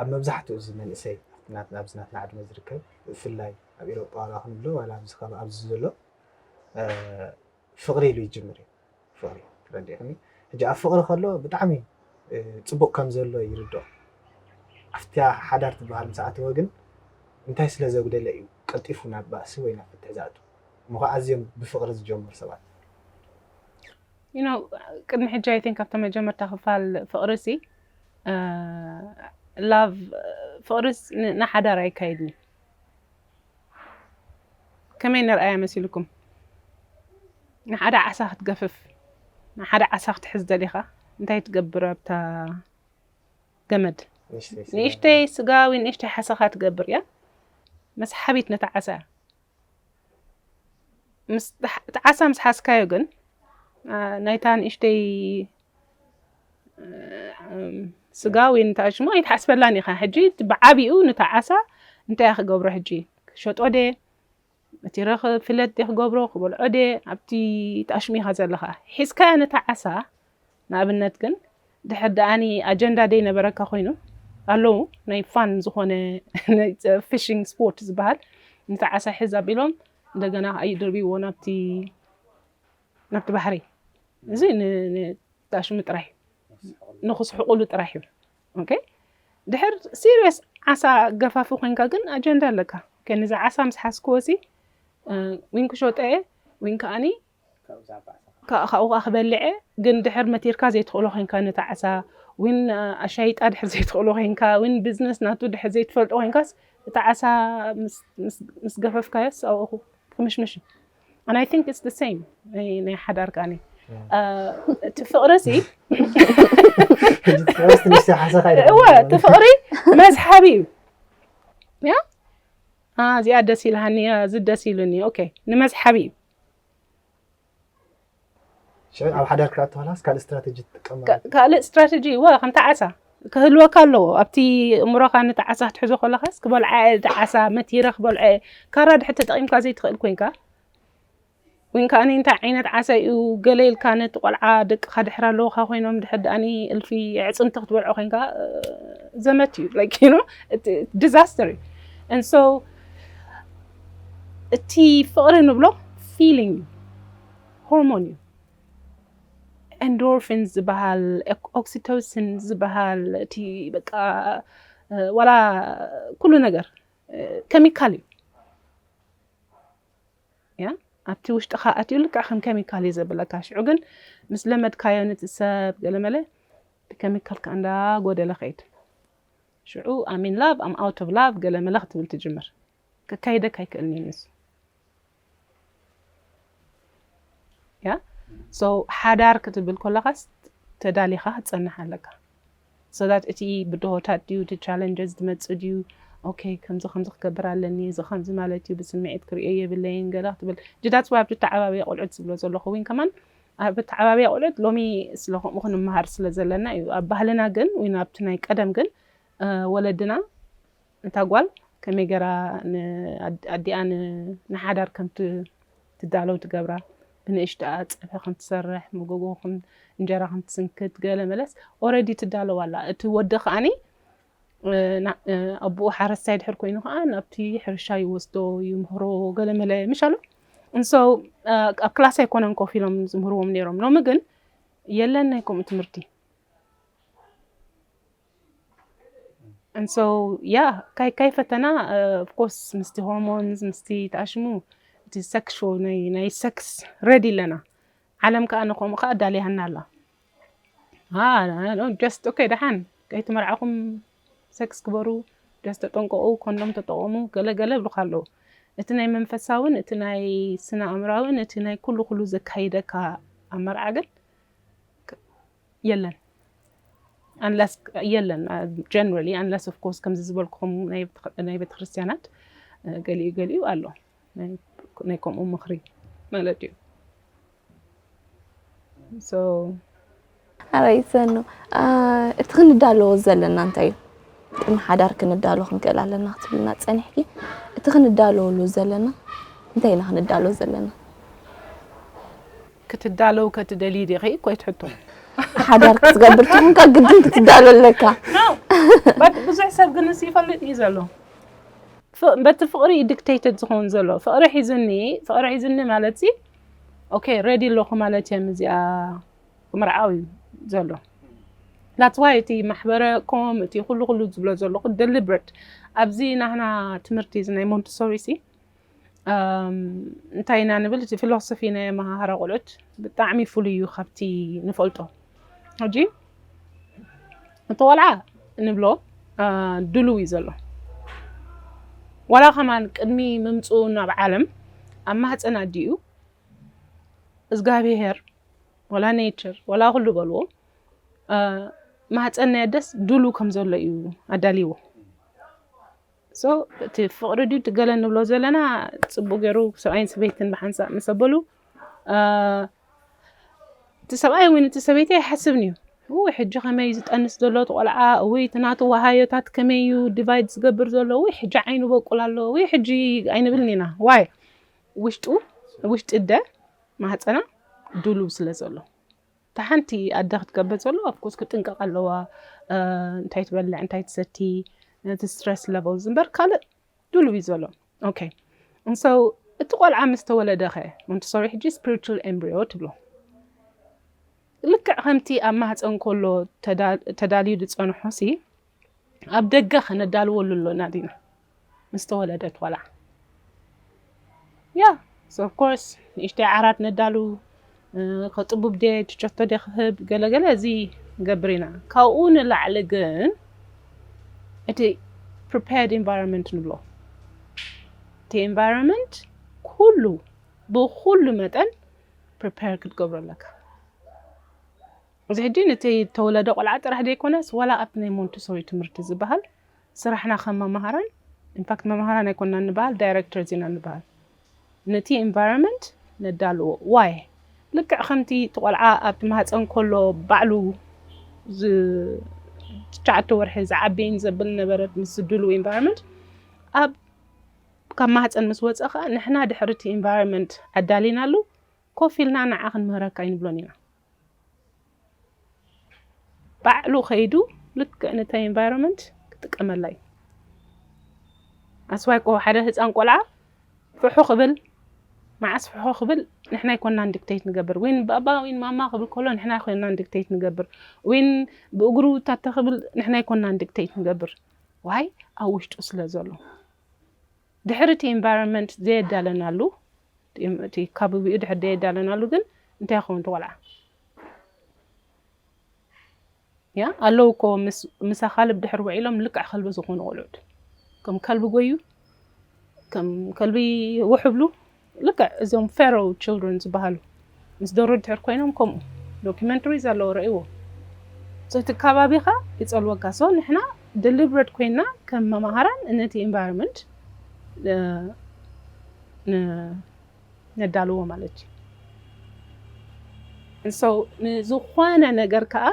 ኣብ መብዛሕትኡ እዚ መንእሰይ ናትና ኣብዚ ናትና ዕድመ ዝርከብ ብፍላይ ኣብ ኤሮጳ ዋላ ክንብሎ ዋላ ኣብዚ ኣብዚ ዘሎ ፍቅሪ ኢሉ ይጅምር እዩ ፍቅሪ ተረዲእክኒ ሕጂ ኣብ ፍቅሪ ከሎ ብጣዕሚ ጽቡቅ ከም ዘሎ ይርድኦ ኣብታ ሓዳር ትበሃል ምስ ኣተወ ግን እንታይ ስለ ዘጉደለ እዩ ቀልጢፉ ናብ ባእሲ ወይ ናብ ፍትሕ ዝኣቱ እሞ ከኣ ኣዝዮም ብፍቅሪ ዝጀምሩ ሰባት you know ቅድሚ ሕጂ ኣይ ቲንክ ኣብታ መጀመርታ ክፋል ፍቅሪ ሲ ላቭ ፍቅሪ ንሓዳር ኣይካይድን እዩ ከመይ ንርኣያ መሲልኩም ንሓደ ዓሳ ክትገፍፍ ንሓደ ዓሳ ክትሕዝ ደሊኻ እንታይ ትገብር ኣብታ ገመድ ንእሽተይ ስጋ ወይ ንእሽተይ ሓሰኻ ትገብር እያ መስሓቢት ነታ ዓሳ እያ እቲ ዓሳ ምስ ሓዝካዮ ግን ናይታ ንእሽተይ ስጋ ወይ ንታ ሽሞ ኣይትሓስበላን ኢኻ ሕጂ ብዓቢኡ ንታ ዓሳ እንታይ ክገብሮ ሕጂ ክሸጦ ደ እቲ ረኽ ፍለት ደ ክገብሮ ክበልዖ ደ ኣብቲ ጣሽሙ ኢኻ ዘለኻ ሒዝካ ነታ ዓሳ ንኣብነት ግን ድሕር ደኣኒ ኣጀንዳ ደይ ነበረካ ኮይኑ ኣለዉ ናይ ፋን ዝኾነ ፊሽንግ ስፖርት ዝበሃል ንታ ዓሳ ሕዝ ኣቢሎም እንደገና ኣይድርብዎ ናብቲ ናብቲ ባሕሪ እዚ ንጣሽሙ ጥራይ ንክስሕቁሉ ጥራይ እዩ ኦኬ ድሕር ሲሪየስ ዓሳ ገፋፊ ኮንካ ግን ኣጀንዳ ኣለካ ኦኬ ነዚ ዓሳ ምስ ሓዝክዎ እዚ ዊን ክሸጦ እየ ዊን ከዓኒ ካብኡ ከዓ ክበልዐ ግን ድሕር መቲርካ ዘይትኽእሎ ኮንካ ነቲ ዓሳ ዊን ኣሻይጣ ድሕር ዘይትኽእሎ ኮንካ ዊን ቢዝነስ ናቱ ድሕር ዘይትፈልጦ ኮንካስ እቲ ዓሳ ምስ ገፈፍካዮስ ኣብኡ ክምሽምሽ እዩ and I think it's the same ናይ ሓዳር ቃኒ እቲ ፍቕሪ እዚ እወ እቲ ፍቕሪ መስሓቢ እዩ ያ እዚኣ ደስ ኢልሃኒ እዚ ደስ ኢሉኒ ኦኬ ንመስሓቢ እዩ ሽዑ ኣብ ሓዳር ክትኣተዋላስ ካልእ ስትራተጂ ትጥቀም ማለት ካልእ ስትራተጂ ዋ ከምቲ ዓሳ ክህልወካ ኣለዎ ኣብቲ እምሮኻ ነቲ ዓሳ ክትሕዞ ከለኻስ ክበልዓ እቲ ዓሳ መቲረ ክበልዐ ካራ ድሕር ተጠቒምካ ዘይትኽእል ኮንካ ወይን ከዓኒ እንታይ ዓይነት ዓሳ እዩ ገለ ኢልካ ነቲ ቆልዓ ደቅኻ ድሕር ኣለውካ ኮይኖም ድሕር ድኣኒ እልፊ ዕፅምቲ ክትበልዖ ኮንካ ዘመት እዩ ላይክ ዩ ዲዛስተር እዩ እንሶ እቲ ፍቕሪ ንብሎ ፊሊንግ እዩ ሆርሞን እዩ። ኤንዶርፊንስ ዝበሃል ኦክሲቶሲን ዝበሃል እቲ በቃ ዋላ ኩሉ ነገር ኬሚካል እዩ ያ ኣብቲ ውሽጥኻ ኣትዩ ልክዕ ከም ኬሚካል እዩ ዘብለካ ሽዑ ግን ምስ ለመድካዮ ነቲ ሰብ ገለመለ እቲ ኬሚካል ከዓ እንዳ ጎደለ ከይድ ሽዑ ኣሚን ላቭ ኣም ኣውት ኦፍ ላቭ ገለመለ ክትብል ትጅምር ከካይደካ ኣይክእልን እዩ ንሱ ያ ሶ ሓዳር ክትብል ኮለኻስ ተዳሊኻ ክትፀንሕ ኣለካ ሶዳት እቲ ብድሆታት ድዩ እቲ ቻለንጀስ ዝመፅእ ድዩ ኦኬ ከምዚ ከምዚ ክገብር ኣለኒ እዚ ከምዚ ማለት እዩ ብስምዒት ክሪኦ የብለይን ገለ ክትብል ጅዳት ስባ ኣብቲ ተዓባብያ ቆልዑት ዝብሎ ዘለኹ ዊን ከማን ኣብ ተዓባብያ ቆልዑት ሎሚ ስለ ከምኡ ክንመሃር ስለ ዘለና እዩ ኣብ ባህልና ግን ወይ ኣብቲ ናይ ቀደም ግን ወለድና እታ ጓል ከመይ ገራ ኣዲኣ ንሓዳር ከም ትዳለው ትገብራ ብንእሽትኣ ጸብሒ ከም ትሰርሕ መጎጎ ከም እንጀራ ከም ትስንክት ገለ መለስ ኦረዲ ትዳለው ኣላ እቲ ወዲ ከኣኒ ኣቦኡ ሓረስታይ ድሕር ኮይኑ ከዓ ናብቲ ሕርሻ ይወስዶ ይምህሮ ገለ መለ ምሽ ኣሎ እንሶ ኣብ ክላስ ኣይኮነን ኮፍ ኢሎም ዝምህርዎም ነይሮም ሎሚ ግን የለን ናይ ከምኡ ትምህርቲ and so yeah ካይ ካይ ፈተና of course ምስቲ ሆርሞንስ ምስቲ ተኣሽሙ እቲ ሰክሹ ናይ ናይ ሰክስ ረዲ ኣለና ዓለም ከዓ ንከምኡ ከዓ ዳልያና ኣላ ጀስት ኦኬ ደሓን ከይትመርዓኹም ሰክስ ግበሩ ጀስት ተጠንቀቑ ኮንዶም ተጠቐሙ ገለ ገለ ይብሉካ ኣለዉ እቲ ናይ መንፈሳውን እቲ ናይ ስነ ኣእምራውን እቲ ናይ ኩሉ ኩሉ ዘካይደካ ኣብ መርዓ ግን የለን ኣንለስ የለን ጀነራሊ ኣንለስ ኦፍ ኮርስ ከምዚ ዝበልኩም ናይ ቤተክርስትያናት ገሊኡ ገሊኡ ኣሎ ናይ ከምኡ ምኽሪ ማለት እዩ ኣበይ ሰኑ እቲ ክንዳለዎ ዘለና እንታይ እዩ ቅድሚ ሓዳር ክንዳሎ ክንክእል ኣለና ክትብልና ፀኒሕኪ እቲ ክንዳለወሉ ዘለና እንታይ ኢና ክንዳሎ ዘለና ክትዳለው ከትደልዪ ዲኺ ኮይት ሕቶ ሓዳር ክትገብር ትኹንካ ግድን ክትዳሎ ኣለካ ብዙሕ ሰብ ግን እስ ይፈልጥ እዩ ዘሎ በቲ ፍቕሪ እዩ ዲክቴትድ ዝኸውን ዘሎ ፍቕሪ ሒዝኒ ፍቕሪ ሒዝኒ ማለት ሲ ኦኬ ሬዲ ኣለኹ ማለት እዮም እዚኣ ምርዓው እዩ ዘሎ ናትዋይ እቲ ማሕበረ ኮም እቲ ኩሉ ኩሉ ዝብሎ ዘለኹ ደሊብረት ኣብዚ ናህና ትምህርቲ እዚ ናይ ሞንትሶሪ ሲ እንታይ ኢና ንብል እዚ ፊሎሶፊ ናይ ኣመሃህራ ቆልዑት ብጣዕሚ ፍሉይ እዩ ካብቲ ንፈልጦ ሕጂ እቲ ቆልዓ ንብሎ ድሉው እዩ ዘሎ ዋላ ከማን ቅድሚ ምምፅኡ ናብ ዓለም ኣብ ማህፀን ኣዲኡ እግዚኣብሄር ወላ ኔቸር ወላ ኩሉ በልዎ ማህፀን ናይ ኣደስ ድሉ ከም ዘሎ እዩ ኣዳልይዎ So እቲ ፍቅሪ ድዩ እቲ ገለ ንብሎ ዘለና ጽቡቅ ገይሩ ሰብኣይን ሰበይትን ብሓንሳእ ምስ ኣበሉ እቲ ሰብኣይ ወይ እቲ ሰበይቲ ኣይሓስብን እዩ ውይ ሕጂ ከመይ ዝጠንስ ዘሎ እቲ ቆልዓ ውይ እቲ ናቱ ወሃዮታት ከመይ እዩ ዲቫይድ ዝገብር ዘሎ ውይ ሕጂ ዓይኑ በቁል ኣሎ ውይ ሕጂ ኣይንብልን ኢና ዋይ ውሽጡ ውሽጢ እደ ማህፀና ድሉው ስለ ዘሎ እታ ሓንቲ ኣደ ክትገብር ዘለዎ ኣፍኮርስ ክጥንቀቅ ኣለዋ እንታይ ትበልዕ እንታይ ትሰቲ እቲ ስትረስ ለቨል ዝምበር ካልእ ድሉው እዩ ዘሎ ኦኬ እንሰው እቲ ቆልዓ ምስ ተወለደ ከ ሞንተሶሪ ሕጂ ስፒሪቹል ኤምብሪዮ ትብሎ ልክዕ ከምቲ ኣብ ማህፀን ከሎ ተዳልዩ ዝፀንሖ ሲ ኣብ ደገ ከነዳልወሉ ኣሎና ዲና ምስ ተወለደት ዋላ ያ ኦፍ ኮርስ ንእሽተይ ዓራት ነዳሉ ከጥቡብ ደ ትቸቶ ደ ክህብ ገለገለ እዚ ንገብር ኢና ካብኡ ንላዕሊ ግን እቲ ፕሪፓርድ ኢንቫይሮንመንት ንብሎ እቲ ኢንቫይሮንመንት ኩሉ ብኩሉ መጠን ፕሪፓር ክትገብሮ ኣለካ እዚ ሕጂ ነቲ እተወለደ ቆልዓ ጥራሕ ዘይኮነስ ዋላ ኣብቲ ናይ ሞንቲሶሪ ትምህርቲ ዝበሃል ስራሕና ከም መማህራን in fact መማህራን ኣይኮናን ንበሃል ዳይረክተርስ ኢና ንበሃል ነቲ ኢንቫይሮመንት ነዳልዎ why ልክዕ ከምቲ እቲ ቆልዓ ኣብቲ ማህጸን ከሎ ባዕሉ ትሽዓተ ወርሒ ዝዓቢ in ዘብል ነበረት ምስ ዝድልው ኢንቫይሮመንት ኣብ ካብ ማህጸን ምስ ወጸ ከኣ ንሕና ድሕሪ እቲ ኢንቫይሮመንት ኣዳሊናሉ ኮፍ ኢልና ንዓ ክንምህረካ ኣይንብሎን ኢና ባዕሉ ከይዱ ልክዕ ነታ ኢንቫይሮንመንት ክጥቀመላ እዩ ኣስዋይ ኮ ሓደ ህፃን ቆልዓ ፍሑ ክብል መዓስ ፍሑ ክብል ንሕና ይኮናን ዲክቴት ንገብር ወይን ባባ ወይን ማማ ክብል ከሎ ንሕና ይኮናን ዲክቴት ንገብር ወይን ብእግሩ ታተ ክብል ንሕና ይኮናን ዲክቴት ንገብር ዋይ ኣብ ውሽጡ ስለ ዘሎ ድሕሪ እቲ ኢንቫይሮንመንት ዘየዳለናሉ፣ እቲ ካበቢኡ ድሕሪ ዘየዳለናሉ ግን እንታይ ይኸውን እቲ ቆልዓ? ያ ኣለዉ እኮ ምስ ኣኻልብ ድሕሪ ውዒሎም ልክዕ ከልቢ ዝኾኑ ቆልዑት ከም ከልቢ ጎዩ ከም ከልቢ ውሕብሉ ልክዕ እዞም ፌሮ ችልድረን ዝበሃሉ ምስ ዶሮ ድሕር ኮይኖም ከምኡ ዶኩመንተሪ ዘለዎ ረእይዎ እቲ ከባቢኻ ይጸልወካ ሶ ንሕና ደሊብረድ ኮይና ከም መማሃራን ነቲ ኤንቫይሮንመንት ነዳልዎ ማለት እዩ ንሶ ንዝኾነ ነገር ከዓ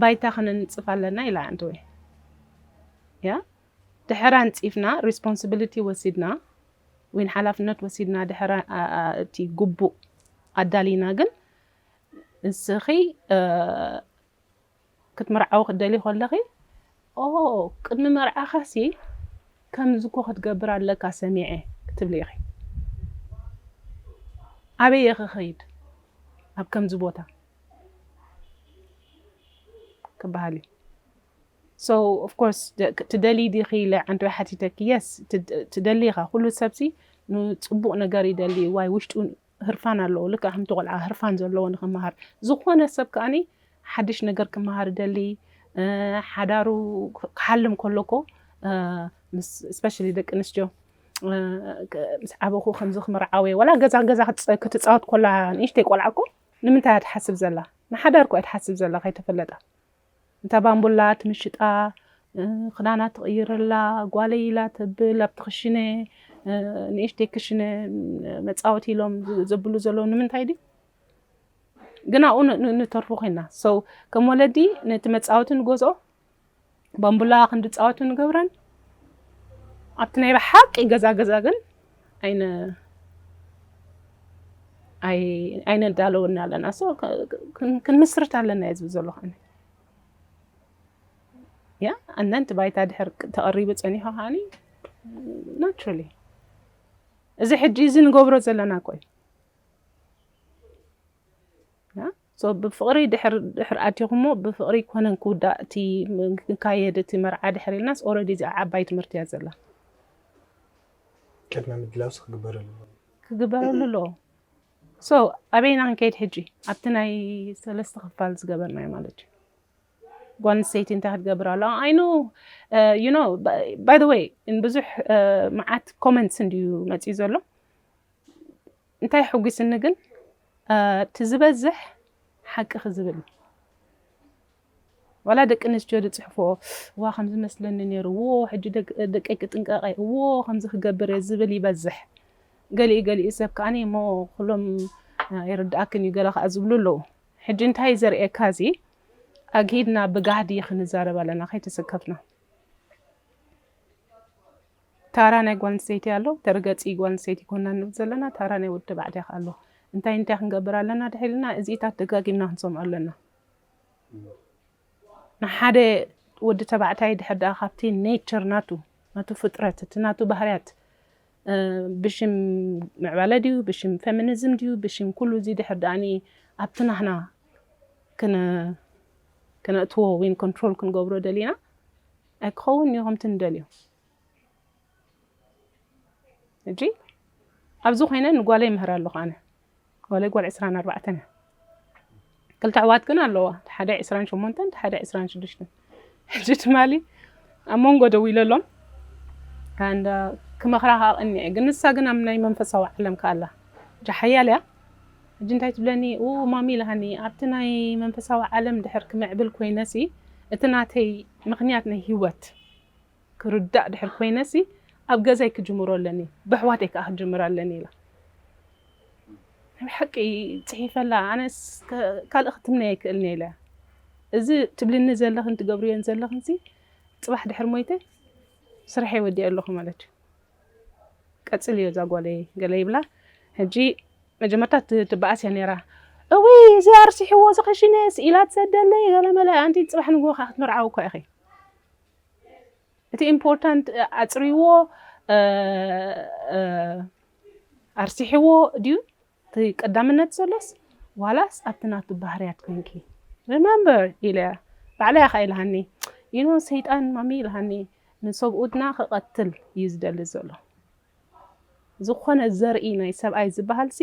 ባይታ ክነንጽፍ ኣለና ኢላ ኣንተ ወይ ያ ድሕር ኣንጺፍና ሪስፖንስብሊቲ ወሲድና ወይን ሓላፍነት ወሲድና ድሕር እቲ ጉቡእ ኣዳሊና ግን ንስኺ ክትምርዓዊ ክትደልይ ኮለኺ ኦ ቅድሚ መርዓኻሲ ከምዚ እኮ ክትገብር ኣለካ ሰሚዐ ክትብሊ ኢኺ ኣበይ እየ ክኸይድ ኣብ ከምዚ ቦታ ክበሃል እዩ። So of course ትደልዪ ዲኺ ኢለ ዓንድሪ ሓቲተኪ yes ትደሊ ኢኻ ኩሉ ሰብሲ ንጽቡቕ ነገር ይደሊ ዋይ ውሽጡ ህርፋን ኣለዎ ልክዕ ከምቲ ቆልዓ ህርፋን ዘለዎ ንኽመሃር ዝኾነ ሰብ ከኣኒ ሓድሽ ነገር ክመሃር ይደሊ ሓዳሩ ክሓልም ከሎ እኮ ስፔሻሊ ደቂ ኣንስትዮ ምስ ዓበኹ ከምዚ ክምርዓወ ዋላ ገዛ ገዛ ክትፃወት ኮላ ንእሽተይ ቆልዓ እኮ ንምንታይ እያ ትሓስብ ዘላ ንሓዳር እኮ እያ ትሓስብ ዘላ ከይተፈለጣ እንተ ባንቡላ ትምሽጣ፣ ክዳና ትቕይረላ፣ ጓለይ ኢላ ተብል፣ ኣብቲ ክሽነ፣ ንእሽተይ ክሽነ መጻወቲ ኢሎም ዘብሉ ዘለዉ ንምንታይ ድዩ? ግን ኣብኡ ንተርፉ ኮይና። So ከም ወለዲ ነቲ መጻወቲ ንገዝኦ፣ ባንቡላ ክንድጻወቱ ንገብረን፣ ኣብቲ ናይ ብሓቂ ገዛ ገዛ ግን ኣይነ ኣይነዳለወና ኣለና ክንምስርት ኣለና እየ ዝብል ዘለኹ ኣነ ያ ኣነንቲ ባይታ ድሕር ተቐሪቡ ፀኒሖ ከዓኒ ናቹራሊ እዚ ሕጂ እዚ ንገብሮ ዘለና ቆይ So ብፍቅሪ ድሕር ኣቲኩሞ ብፍቅሪ ኣይኮነን ክውዳእ እቲ ክካየድ እቲ መርዓ ድሕር ኢልናስ already እዚኣ ዓባይ ትምህርቲ እያ ዘላ። ቅድመ ምድላውስ ክግበረሉ ኣለዎ። ክግበረሉ ኣለዎ so ኣበይ ኢና ክንከይድ ሕጂ ኣብቲ ናይ ሰለስተ ክፋል ዝገበርናዮ ማለት እዩ። ጓል ኣንስተይቲ እንታይ ክትገብር ኣለዋ ኣይ ኖ ዩ ኖ ባይ ዘ ወይ ብዙሕ መዓት ኮመንትስ እንድዩ መፅዩ ዘሎ እንታይ ሑጉስኒ ግን እቲ ዝበዝሕ ሓቂ ክዝብል እዩ ዋላ ደቂ ኣንስትዮ ዝፅሕፎ እዋ ከምዚ መስለኒ ነይሩ እዎ ሕጂ ደቀይ ክጥንቀቀ እዎ ከምዚ ክገብር እየ ዝብል ይበዝሕ ገሊኡ ገሊኡ ሰብ ከዓ እሞ ኩሎም ይርድኣክን እዩ ገለ ከዓ ዝብሉ ኣለዉ ሕጂ እንታይ ዘርእየካ እዚ ኣግሂድና ብጋህዲ ክንዛረብ ኣለና ከይተሰከፍና ታራ ናይ ጓል ኣንስተይቲ ኣሎ ተርገጺ ጓል ኣንስተይቲ ኮና ንብል ዘለና ታራ ናይ ወዲ ተባዕታይ ከኣ ኣሎ እንታይ እንታይ ክንገብር ኣለና ድሕሪ ኢልና እዚኢታት ደጋጊምና ክንሰምዖ ኣለና ንሓደ ወዲ ተባዕታይ ድሕር ደኣ ካብቲ ኔቸር ናቱ ናቱ ፍጥረት እቲ ናቱ ባህርያት ብሽም ምዕባለ ድዩ ብሽም ፌሚኒዝም ድዩ ብሽም ኩሉ እዚ ድሕር ደኣኒ ኣብቲ ናህና ክነእትዎ ወይን ኮንትሮል ክንገብሮ ደሊና ኣይክኸውንን እዩ ከምቲ ንደልዮ ሕጂ ኣብዚ ኮይነ ንጓለይ ይምህር ኣለኹ ኣነ ጓለይ ጓል ዕስራን ኣርባዕተን እያ ክልተ ኣሕዋት ግን ኣለዋ እቲ ሓደ ዕስራን ሸሞንተን እቲ ሓደ ዕስራን ሽዱሽተን ሕጂ ትማሊ ኣብ መንጎ ደው ኢለሎም ክመኽራ ከዓ ቀኒዐ ግን ንሳ ግን ኣብ ናይ መንፈሳዊ ዓለም ከኣላ ጃሓያል እያ ሕጂ እንታይ ትብለኒ ኡኡ ማሚ ኢልሃኒ ኣብቲ ናይ መንፈሳዊ ዓለም ድሕር ክምዕብል ኮይነሲ እቲ ናተይ ምክንያት ናይ ሂወት ክርዳእ ድሕር ኮይነሲ ኣብ ገዛይ ክጅምሮ ኣለኒ በሕዋተይ ከኣ ክጅምር ኣለኒ ኢላ ናይ ብሓቂ ጺሒፈላ ኣነስ ካልእ ክትምነይ ኣይክእልንየ ኢለያ እዚ ትብልኒ ዘለክን ትገብርዮን ዘለክንሲ ጽባሕ ድሕር ሞይተ ስርሐይ ወዲኤ ኣለኩ ማለትዩ። ቀጽልዮ እዛ ጓለይ ገለ ይብላ ሕጂ መጀመርታ ትበኣስ እያ ነይራ እውይ እዚ ኣርሲሕዎ እዚ ክሽነ ስኢላ ትሰደለይ ገለመለ ኣንቲ ጽባሕ ንግሆ ከ ክትምርዓዊ እኳ ኢኺ እቲ ኢምፖርታንት ኣጽርይዎ ኣርሲሕዎ ድዩ እቲ ቀዳምነት ዘሎስ ዋላስ ኣብቲ ናቱ ባህርያት ኮይንኪ? Remember ኢለ ባዕለይ ኣኻኢልሃኒ you know ሰይጣን ማሚ ኢልሃኒ ንሰብኡትና ክቐትል እዩ ዝደሊ ዘሎ ዝኾነ ዘርኢ ናይ ሰብኣይ ዝበሃልሲ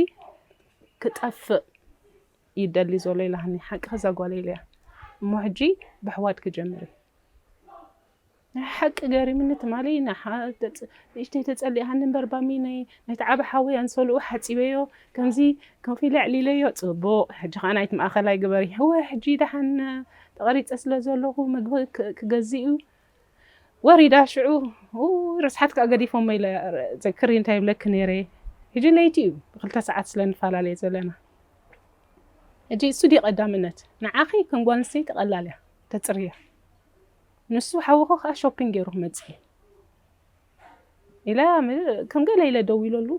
ክጠፍእ እዩ ዝደሊ ዘሎ ኢልሃኒ ሓቅኺ እዛ ጓለይ ኢለያ እሞ ሕጂ በሕዋት ክጀምር እዩ ናይ ሓቂ ገሪምኒ ትማሊ ንእሽተይ ተጸሊኣኒ እምበር ባሚ ነቲ ዓቢ ሓወይ ኣንሶልኡ ሓጺበዮ ከምዚ ኮፍ ኢለ ኣዕሊለዮ ጽቡቅ ሕጂ ከኣ ናይቲ ማእከላይ ግበሪ እወ ሕጂ ደሓን ተቀሪጸ ስለ ዘለኩ ምግቢ ክገዝእ እዩ ወሪዳ ሽዑ ኡይ ርስሓት ከኣ ገዲፎሞ ኢለ ዘክሪ እንታይ ይብለኪ ነይረ ሕጂ ለይቲ እዩ ብክልተ ሰዓት ስለ ንፈላለየ ዘለና ሕጂ እሱ ድዩ ቀዳምነት ንዓኺ ከም ጓል ኣንስተይቲ ቀላል እያ ተጽርያ ንሱ ሓውኹ ከዓ ሾፒንግ ገይሩ ክመፅእ እዩ ኢለ ከም ገለ ኢለ ደዊለሉ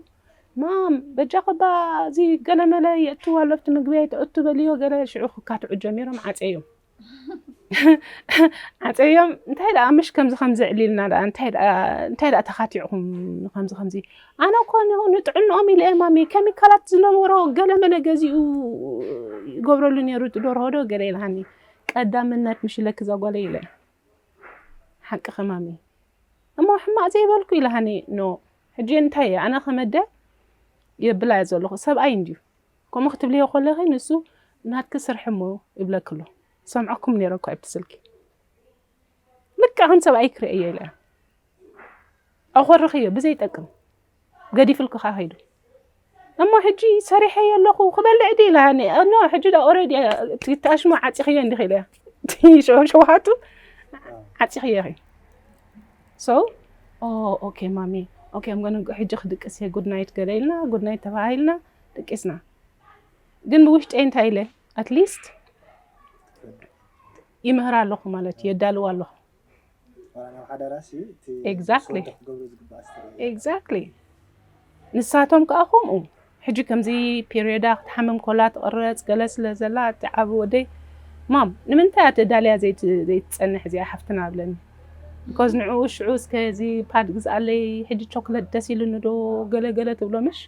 ማም በጃ ከባ እዚ ገለመለ የእትው ኣሎ ኣብቲ ምግቢ ኣይተእቱ በልዮ ገለ ሽዑ ክካትዑ ጀሚሮም ዓፀዮም ዓፀዮም እንታይ ደኣ ምሽ ከምዚ ከምዚ ዕሊልና ደኣ እንታይ ደኣ ተኻቲዕኹም ከምዚ ከምዚ ኣነ እኮ ንጥዕንኦም ኢለ እየ ማሚ ኬሚካላት ዝነበሮ ገለ መለ ገዚኡ ይገብረሉ ነይሩ እቲ ደርሆ ዶ ገለ ኢልሃኒ ቀዳምነት ምሽለኪ እዛ ጓለይ ኢለ ሓቅኺ ማሚ እሞ ሕማቅ ዘይበልኩ ኢላሃኒ ኖ ሕጂ እንታይ እየ ኣነ ከመደ የብላ እየ ዘለኹ ሰብኣይ እንድዩ ከምኡ ክትብልዮ ኮለኺ ንሱ ናትኪ ስርሒ እሞ ይብለኪ ኣሎ ሰምዐኩም ነይረ እኮ ኣብቲ ስልኪ ልክዕ ከም ሰብኣይ ክርእየዮ ኢለ ኣኾርኽዮ ብዘይጠቅም ገዲፍልኩ ከ ከይዱ እሞ ሕጂ ሰሪሐዮ ኣለኹ ክበልዕ ዲ ኢላሃኒ ኖ ሕጂ ዳ ኦረዲ ትኣሽሞ ዓፂኽዮ እንዲኺ ኢለ ሸውሃቱ ዓፂኽዮ ኺ ሶ ኦኬ ማሚ ኦኬ ምገኑ ሕጂ ክድቅስ እየ ጉድ ናይት ገለ ኢልና ጉድ ናይት ተባሂልና ደቂስና ግን ብውሽጢ እንታይ ኢለ ኣትሊስት ይምህራ ኣለኹ ማለት እዩ የዳልዋ ኣለኹ ኤግዛክትሊ ንሳቶም ከዓ ከምኡ ሕጂ ከምዚ ፔሪዳ ክትሓምም ኮላ ትቕረፅ ገለ ስለ ዘላ እቲ ዓብ ወደይ ማም ንምንታይ ኣተዳልያ ዘይትፀንሕ እዚኣ ሓፍትና ብለኒ ቢኮዝ ንዕኡ ሽዑ እስከ እዚ ፓድ ግዝኣለይ ሕጂ ቾክለት ደስ ኢሉኒ ዶ ገለገለ ትብሎ ምሽ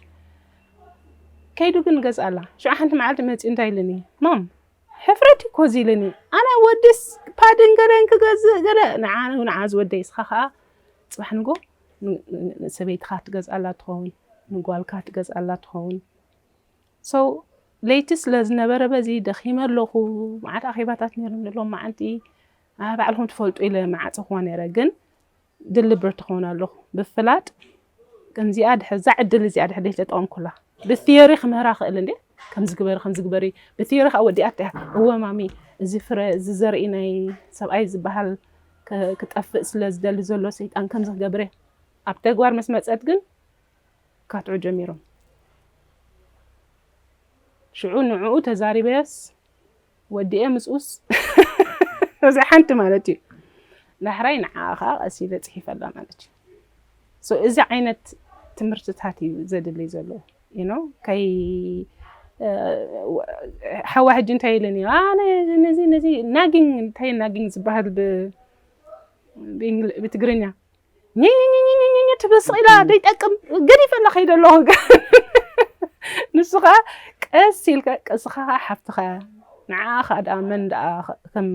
ከይዱ ግን ገዝኣላ ሽዑ ሓንቲ መዓልቲ መፂኡ እንታይ ኢሉኒ ማም ሕፍረት እኮ ዚልኒ ኣነ ወድስ ፓድን ገለን ክገዝእ ገለ ንዓ ንዓ ዝወደይ እስኻ ከዓ ፅባሕ ንጎ ንሰበይትኻ ትገዝኣላ ትኸውን ንጓልካ ትገዝኣላ ትኸውን ሰው ለይቲ ስለ ዝነበረ በዚ ደኺመ ኣለኹ መዓት ኣኼባታት ነይሩኒ ሎም መዓንቲ ባዕልኹም ትፈልጡ ኢለ መዓፀኹዋ ነይረ ግን ድል ብርት ክኾን ኣለኹ ብፍላጥ ከምዚኣ ድሕር ዛ ዕድል እዚኣ ድሕር ደይ ተጠቐምኩላ ብትዮሪ ክምህራ ክእል እንዴ ከምዚ ግበሪ ከምዚ ግበሪ ብትዮሪ ከዓ ወዲኣት እያ እወ ማሚ እዚ ፍረ እዚ ዘርኢ ናይ ሰብኣይ ዝበሃል ክጠፍእ ስለ ዝደሊ ዘሎ ሰይጣን ከምዚ ክገብር እየ ኣብ ተግባር ምስ መፀት ግን ካትዑ ጀሚሮም ሽዑ ንዕኡ ተዛሪበስ ወዲኤ ምጽውስ እዚ ሓንቲ ማለት እዩ ዳሕራይ ንዓኣ ከዓ ቀስ ኢለ ጽሒፈላ ማለት እዩ ሶ እዚ ዓይነት ትምህርትታት እዩ ዘድልይ ዘሎ ዩ ኖ ከይ ሓዋ ሕጂ እንታይ ኢለን እዩ ኣነ ነዚ ነዚ ናጊንግ እንታይ ናጊንግ ዝበሃል ብ- ብእንግሊ- ብትግርኛ ኝኝኝኝኝኝ ትብል ስቕ ኢላ ዘይጠቅም ገዲፈላ ከይደ ኣለኹ ንሱ ከዓ ቀስ ኢልካ ቀስኻ ከዓ ሓፍትኻ እያ ንዓኣ ከዓ ደኣ መን ደኣ ከም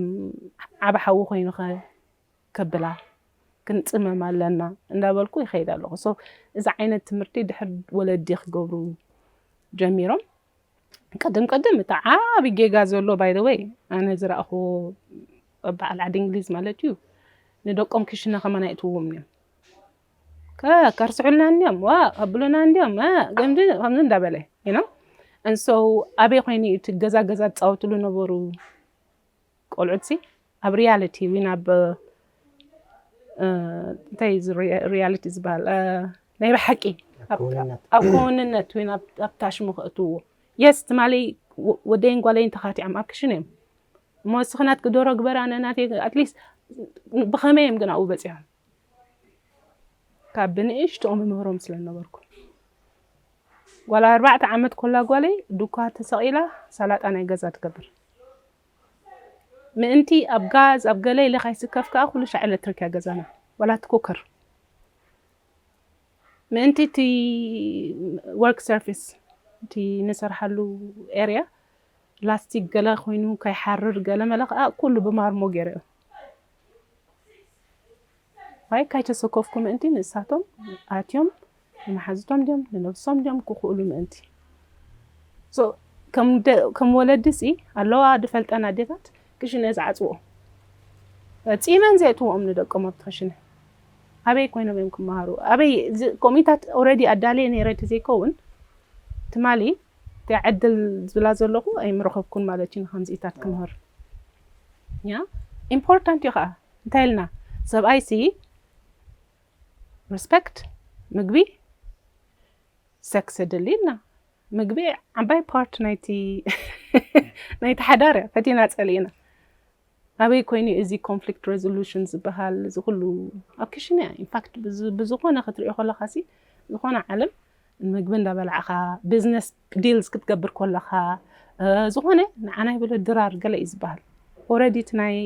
ዓብ ሓዊ ኮይኑ ከ ከብላ ክንፅመም ኣለና እንዳበልኩ ይኸይድ ኣለኹ ሶ እዚ ዓይነት ትምህርቲ ድሕር ወለዲ ክገብሩ ጀሚሮም ቅድም ቅድም እቲ ዓቢ ጌጋ ዘሎ ባይ ዘ ወይ ኣነ ዝረኣኹዎ በዓል ዓዲ እንግሊዝ ማለት እዩ ንደቆም ክሽነ ከማን ኣይእትውዎም እዮም ከርስዑልና እንዲዮም ዋ ከብሉና እንዲዮም ገምዚ ከምዚ እንዳበለ ኢና እንሶ ኣበይ ኮይኑ እቲ ገዛ ገዛ ዝፃወትሉ ነበሩ ቆልዑትሲ ኣብ ሪያሊቲ ዊን ኣብ እንታይ እዚ ሪያሊቲ ዝበሃል ናይ ብሓቂ ኣብ ክውንነት ዊን ኣብ ታሽሙ ከእትውዎ የስ ትማሊ ወደይን ጓለይን ተኻቲዖም ኣብ ክሽን እዮም እሞ እስኺ ናትኪ ዶሮ ግበራ ነናተይ ኣትሊስት ብኸመይ እዮም ግን ኣብኡ በፂሖም ካብ ብንእሽትኦም እምህሮም ስለ ዝነበርኩ ጓል ኣርባዕተ ዓመት ኮላ ጓለይ ዱኳ ተሰቒላ ሳላጣ ናይ ገዛ ትገብር ምእንቲ ኣብ ጋዝ ኣብ ገለ ኢለ ካይስከፍ ከዓ ኩሉ ሻዕ ኤሌክትሪክ እያ ገዛና ዋላ እቲ ኩከር ምእንቲ እቲ ወርክ ሰርፊስ እቲ ንሰርሓሉ ኤርያ ላስቲክ ገለ ኮይኑ ከይሓርር ገለ መለ ከዓ ኩሉ ብማርሞ ገይረኦ ኣይ ካይተሰኮፍኩ ምእንቲ ንእሳቶም ኣትዮም ንመሓዙቶም ድዮም ንነብሶም ድዮም ክኽእሉ ምእንቲ so ከም ከም ወለዲ ሲ ኣለዋ ድፈልጠን ኣዴታት ክሽነ ዝዓጽዎ ጺመን ዘእትዎም ንደቆም ኣብቲ ክሽነ ኣበይ ኮይኖም እዮም ክመሃሩ ኣበይ ኮሚታት ኦልሬዲ ኣዳልየ ነይረ ተዘይከውን ትማሊ እታ ዕድል ዝብላ ዘለኹ ኣይምረኸብኩን ማለት እዩ ንኸምዚኢታት ክምህር ያ ኢምፖርታንት እዩ ኸዓ እንታይ ኢልና ሰብኣይ ሲ ሪስፐክት ምግቢ ሰክስ የድሊ ኢልና ምግቢ ዓባይ ፓርት ናይቲ ናይቲ ሓዳር እያ ፈቲና ፀሊእና ኣበይ ኮይኑ እዚ ኮንፍሊክት ረዙሉሽን ዝበሃል እዚ ኩሉ ኣብ ክሽነ እያ ኢንፋክት ብዝኾነ ክትሪኦ ከለካ ሲ ዝኾነ ዓለም ምግቢ እንዳበላዕካ ቢዝነስ ዲልስ ክትገብር ከለካ ዝኾነ ንዓና ይበሎ ድራር ገለ እዩ ዝበሃል ኦረዲ እቲ ናይ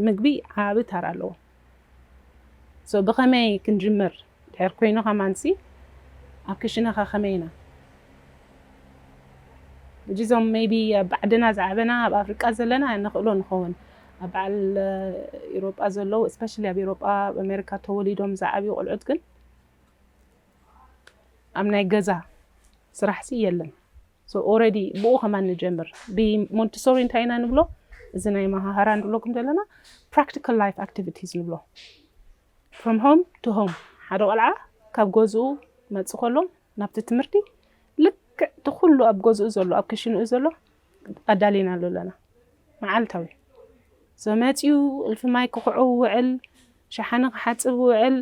ምግቢ ዓቢ ታራ ኣለዎ so ብከመይ ክንጅምር ድሕር ኮይኑ ከማንሲ ኣብ ክሽነካ ከመይ ኢና ሕጂ እዞም ሜይቢ ኣብ ባዕድና ዝዓበና ኣብ ኣፍሪቃ ዘለና ንክእሎ ንከውን ኣብ በዓል ኤሮጳ ዘለዉ እስፔሻሊ ኣብ ኤሮጳ ኣብ ኣሜሪካ ተወሊዶም ዝዓብዩ ቆልዑት ግን ኣብ ናይ ገዛ ስራሕሲ የለን ሶ ኦረዲ ብኡ ከማን ንጀምር ብሞንቲሶሪ እንታይ ኢና ንብሎ እዚ ናይ መሃሃራ ንብለኩም ዘለና ፕራክቲካል ላይፍ ኣክቲቪቲስ ንብሎ ፍሮም ሆም ቱ ሆም ሓደ ቆልዓ ካብ ገዝኡ መፅ ከሎ ናብቲ ትምህርቲ ልክዕ እቲ ኩሉ ኣብ ገዝኡ ዘሎ ኣብ ክሽንኡ ዘሎ ኣዳሊና ኣሎ ኣለና መዓልታዊ መፅኡ እልፊ ማይ ክኽዑ ውዕል ሸሓኒ ክሓፅብ ውዕል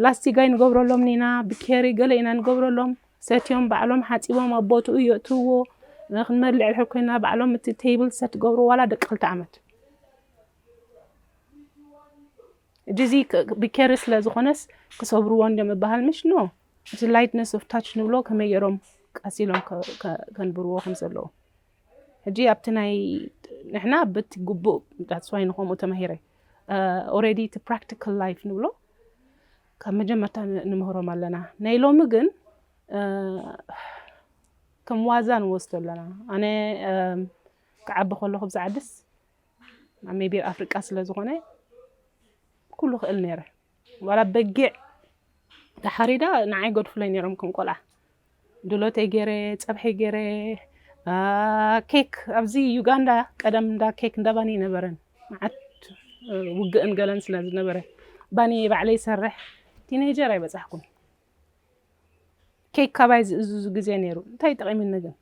ላስቲጋይ ንገብረሎም ኢና ብኬሪ ገለ ኢና ንገብረሎም ሰትዮም ባዕሎም ሓጺቦም ኣብ ቦትኡ የእትውዎ ንክንበልዕ ድሕር ኮይና ባዕሎም እቲ ቴብል ሰት ገብሩ ዋላ ደቂ ክልተ ዓመት ጂዚ ብኬሪ ስለ ዝኾነስ ክሰብርዎ እንዲዮም እባሃል ምሽ ኖ እቲ ላይትነስ ኦፍ ታች ንብሎ ከመይ ገይሮም ቀሲሎም ከንብርዎ ከም ዘለዉ ሕጂ ኣብቲ ናይ ንሕና ብቲ ግቡእ ዳትስዋይ ንከምኡ ተማሂረ ኦረዲ እቲ ፕራክቲካል ላይፍ ንብሎ ካብ መጀመርታ ንምህሮም ኣለና ናይ ሎሚ ግን ከም ዋዛ ንወስዶ ኣለና ኣነ ክዓቢ ከለኹ ብዛ ዓድስ ኣብ ሜቢ ኣፍሪቃ ስለ ዝኾነ ኩሉ ክእል ነይረ ዋላ በጊዕ ተሓሪዳ ንዓይ ገድፍለይ ነይሮም ከም ቆልዓ ድሎተይ ገይረ ፀብሐይ ገይረ ኬክ ኣብዚ ዩጋንዳ ቀደም እንዳ ኬክ እንዳ ባኒ ነበረን መዓት ውግእን ገለን ስለ ዝነበረ ባኒ ባዕለይ ይሰርሕ ቲኔጀር ኣይበፃሕኩን ኬክ ካባይ ዝእዝዙ ግዜ ነይሩ እንታይ ጠቂሙኒ ግን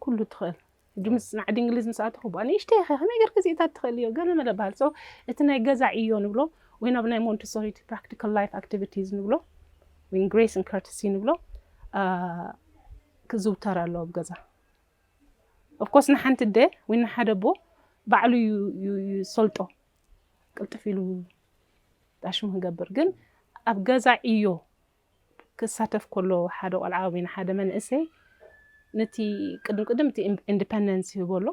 ኩሉ ትኽእል ሕጂ ምጽናዕ ድንግሊዝ ምስ ኣተኹ ብኣ ንእሽተይ ኢኸ ከመይ ጌርኪ እዚእታት ትኽእልዮ ገለ መለ በሃል ሶ እቲ ናይ ገዛ ዕዮ ንብሎ ወይ ናብ ናይ ሞንቲሶሪ እቲ ፕራክቲካል ላይፍ ኣክቲቪቲዝ ንብሎ ወይ ግሬስ ን ከርትሲ ንብሎ ክዝውተር ኣለዎ ኣብ ገዛ ኦፍኮርስ ንሓንቲ ኣደ ወይ ንሓደ ኣቦ ባዕሉ ይሰልጦ ቅልጥፍ ኢሉ ዳሽሙ ክገብር ግን ኣብ ገዛ ዕዮ ክሳተፍ ከሎ ሓደ ቆልዓ ወይ ንሓደ መንእሰይ ነቲ ቅድም ቅድም እቲ ኢንዲፐንደንስ ይህቦ ኣሎ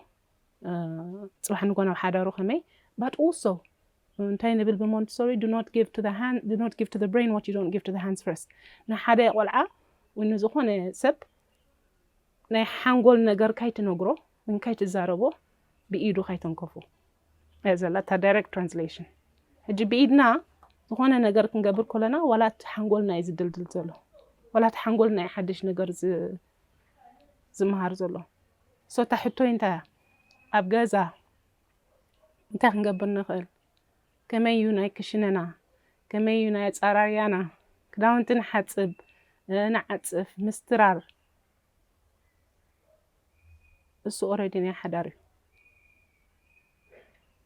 ጽባሕ ንጎ ናብ ሓዳሩ ከመይ ባት ኦልሶ እንታይ ንብል ብሞንትሶሪ ዱ ኖት ጊቭ ቱ ዘ ሃንድ ዱ ኖት ጊቭ ቱ ዘ ብሬን ዋት ዩ ዶንት ጊቭ ቱ ዘ ሃንድስ ፈርስት ንሓደ ቆልዓ ወይ ንዝኾነ ሰብ ናይ ሓንጎል ነገር ካይትነግሮ እንካይ ትዛረቦ ብኢዱ ካይተንከፉ እያ ዘላ እታ ዳይረክት ትራንስሌሽን ሕጂ ብኢድና ዝኾነ ነገር ክንገብር ኮለና ዋላ እቲ ሓንጎልና እዩ ዝድልድል ዘሎ ዋላ እቲ ሓንጎልና እዩ ሓድሽ ነገር ዝመሃር ዘሎ ሶ እታ ሕቶይ እንታይ እያ ኣብ ገዛ እንታይ ክንገብር ንኽእል ከመይ እዩ ናይ ክሽነና ከመይ እዩ ናይ ኣፃራርያና ክዳውንቲ ንሓፅብ ንዓፅፍ ምስትራር እሱ ኦረዲ ናይ ሓዳር እዩ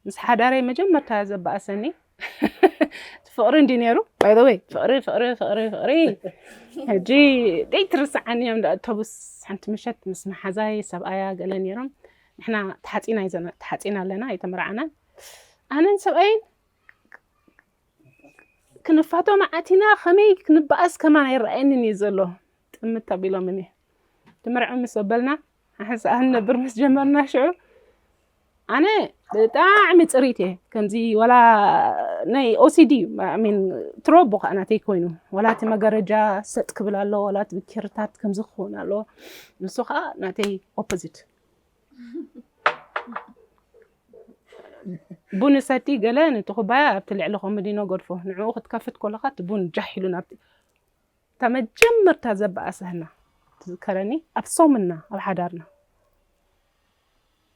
ምስ ሓዳረይ መጀመርታ ዘበኣሰኒ እቲ ፍቕሪ እንዲ ነይሩ ባይዘወይ ፍቕሪ ፍቕሪ ፍቕሪ ፍቕሪ ሕጂ ደይትርስዓኒ እዮም እንዳ ኣውቶቡስ ሓንቲ ምሸት ምስ መሓዛይ ሰብኣያ ገለ ነይሮም ንሕና ተሓፂና እዩ ዘና ተሓፂና ኣለና ኣይተመርዓናን ኣነን ሰብኣይን ክንፋቶ መዓት ኢና ከመይ ክንበኣስ ከማን ኣይረኣየንን እዩ ዘሎ ጥምት ኣቢሎምኒ ትምርዕው ምስ ኣበልና ሓንሳእ ክንነብር ምስ ጀመርና ሽዑ ኣነ ብጣዕሚ ፅሪት እየ ከምዚ ወላ ናይ ኦሲዲ እዩ ሚን ትሮቦ ከዓ ናተይ ኮይኑ ወላ እቲ መጋረጃ ሰጥ ክብል ኣሎ ወላ እቲ ብኬርታት ከምዚ ክኸውን ኣለዎ ንሱ ከዓ ናተይ ኦፖዚት ቡን ሰቲ ገለ ነቲ ኩባያ ኣብቲ ልዕሊ ኮመዲኖ ገድፎ ንዕኡ ክትከፍት ከለካ እቲ ቡን ጃሕ ኢሉ ናብቲ እታ መጀመርታ ዘባኣሰህና ትዝከረኒ ኣብ ሶምና ኣብ ሓዳርና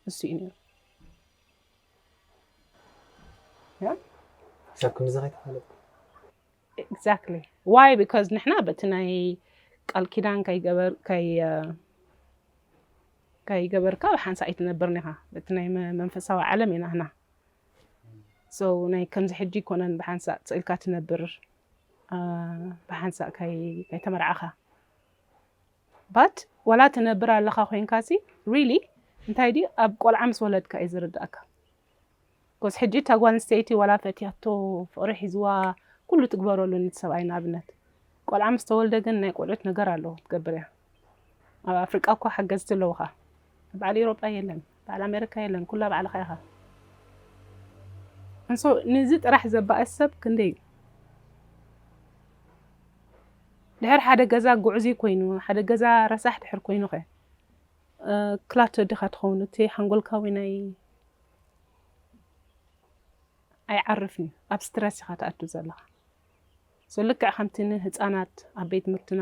ንሱ እዩ ነይሩ ክሳብ ክንድዚ ከይተፋለጥኩም ኤግዛክትሊ ዋይ ቢካዝ ንሕና በቲ ናይ ቃል ኪዳን ከይገበርካ ብሓንሳእ ኣይትነብርን ኢኻ በቲ ናይ መንፈሳዊ ዓለም ኢና ህና So ናይ ከምዚ ሕጂ ኣይኮነን ብሓንሳእ ስእልካ ትነብር ብሓንሳእ ካይ ተመርዓኻ but ዋላ ትነብር ኣለኻ ኮይንካ ሲ really እንታይ ዲ ኣብ ቆልዓ ምስ ወለድካ እዩ ዝርዳእካ ኮስ ሕጂ እታ ጓል ኣንስተይቲ ዋላ ፈትያቶ ፍቕሪ ሒዝዋ ኩሉ ትግበረሉ ንቲ ሰብኣይ ንኣብነት ቆልዓ ምስ ተወልደ ግን ናይ ቆልዑት ነገር ኣለዎ ትገብር እያ ኣብ ኣፍሪቃ እኳ ሓገዝቲ ኣለዉኻ ኣብ በዓል ኤሮጳ የለን በዓል ኣሜሪካ የለን ኩላ ባዕልኻ ኢኻ እንሶ ንዚ ጥራሕ ዘባእስ ሰብ ክንደይ እዩ ድሕር ሓደ ገዛ ጉዕዙ ኮይኑ ሓደ ገዛ ረሳሕ ድሕር ኮይኑ ከ ክላቶ ድኻ ትኸውን እቲ ሓንጎልካዊ ናይ ኣይዓርፍን እዩ ኣብ ስትረስ ኢኻ ትኣቱ ዘለኻ ሰልክዕ ከምቲ ንህፃናት ኣብ ቤት ትምህርትና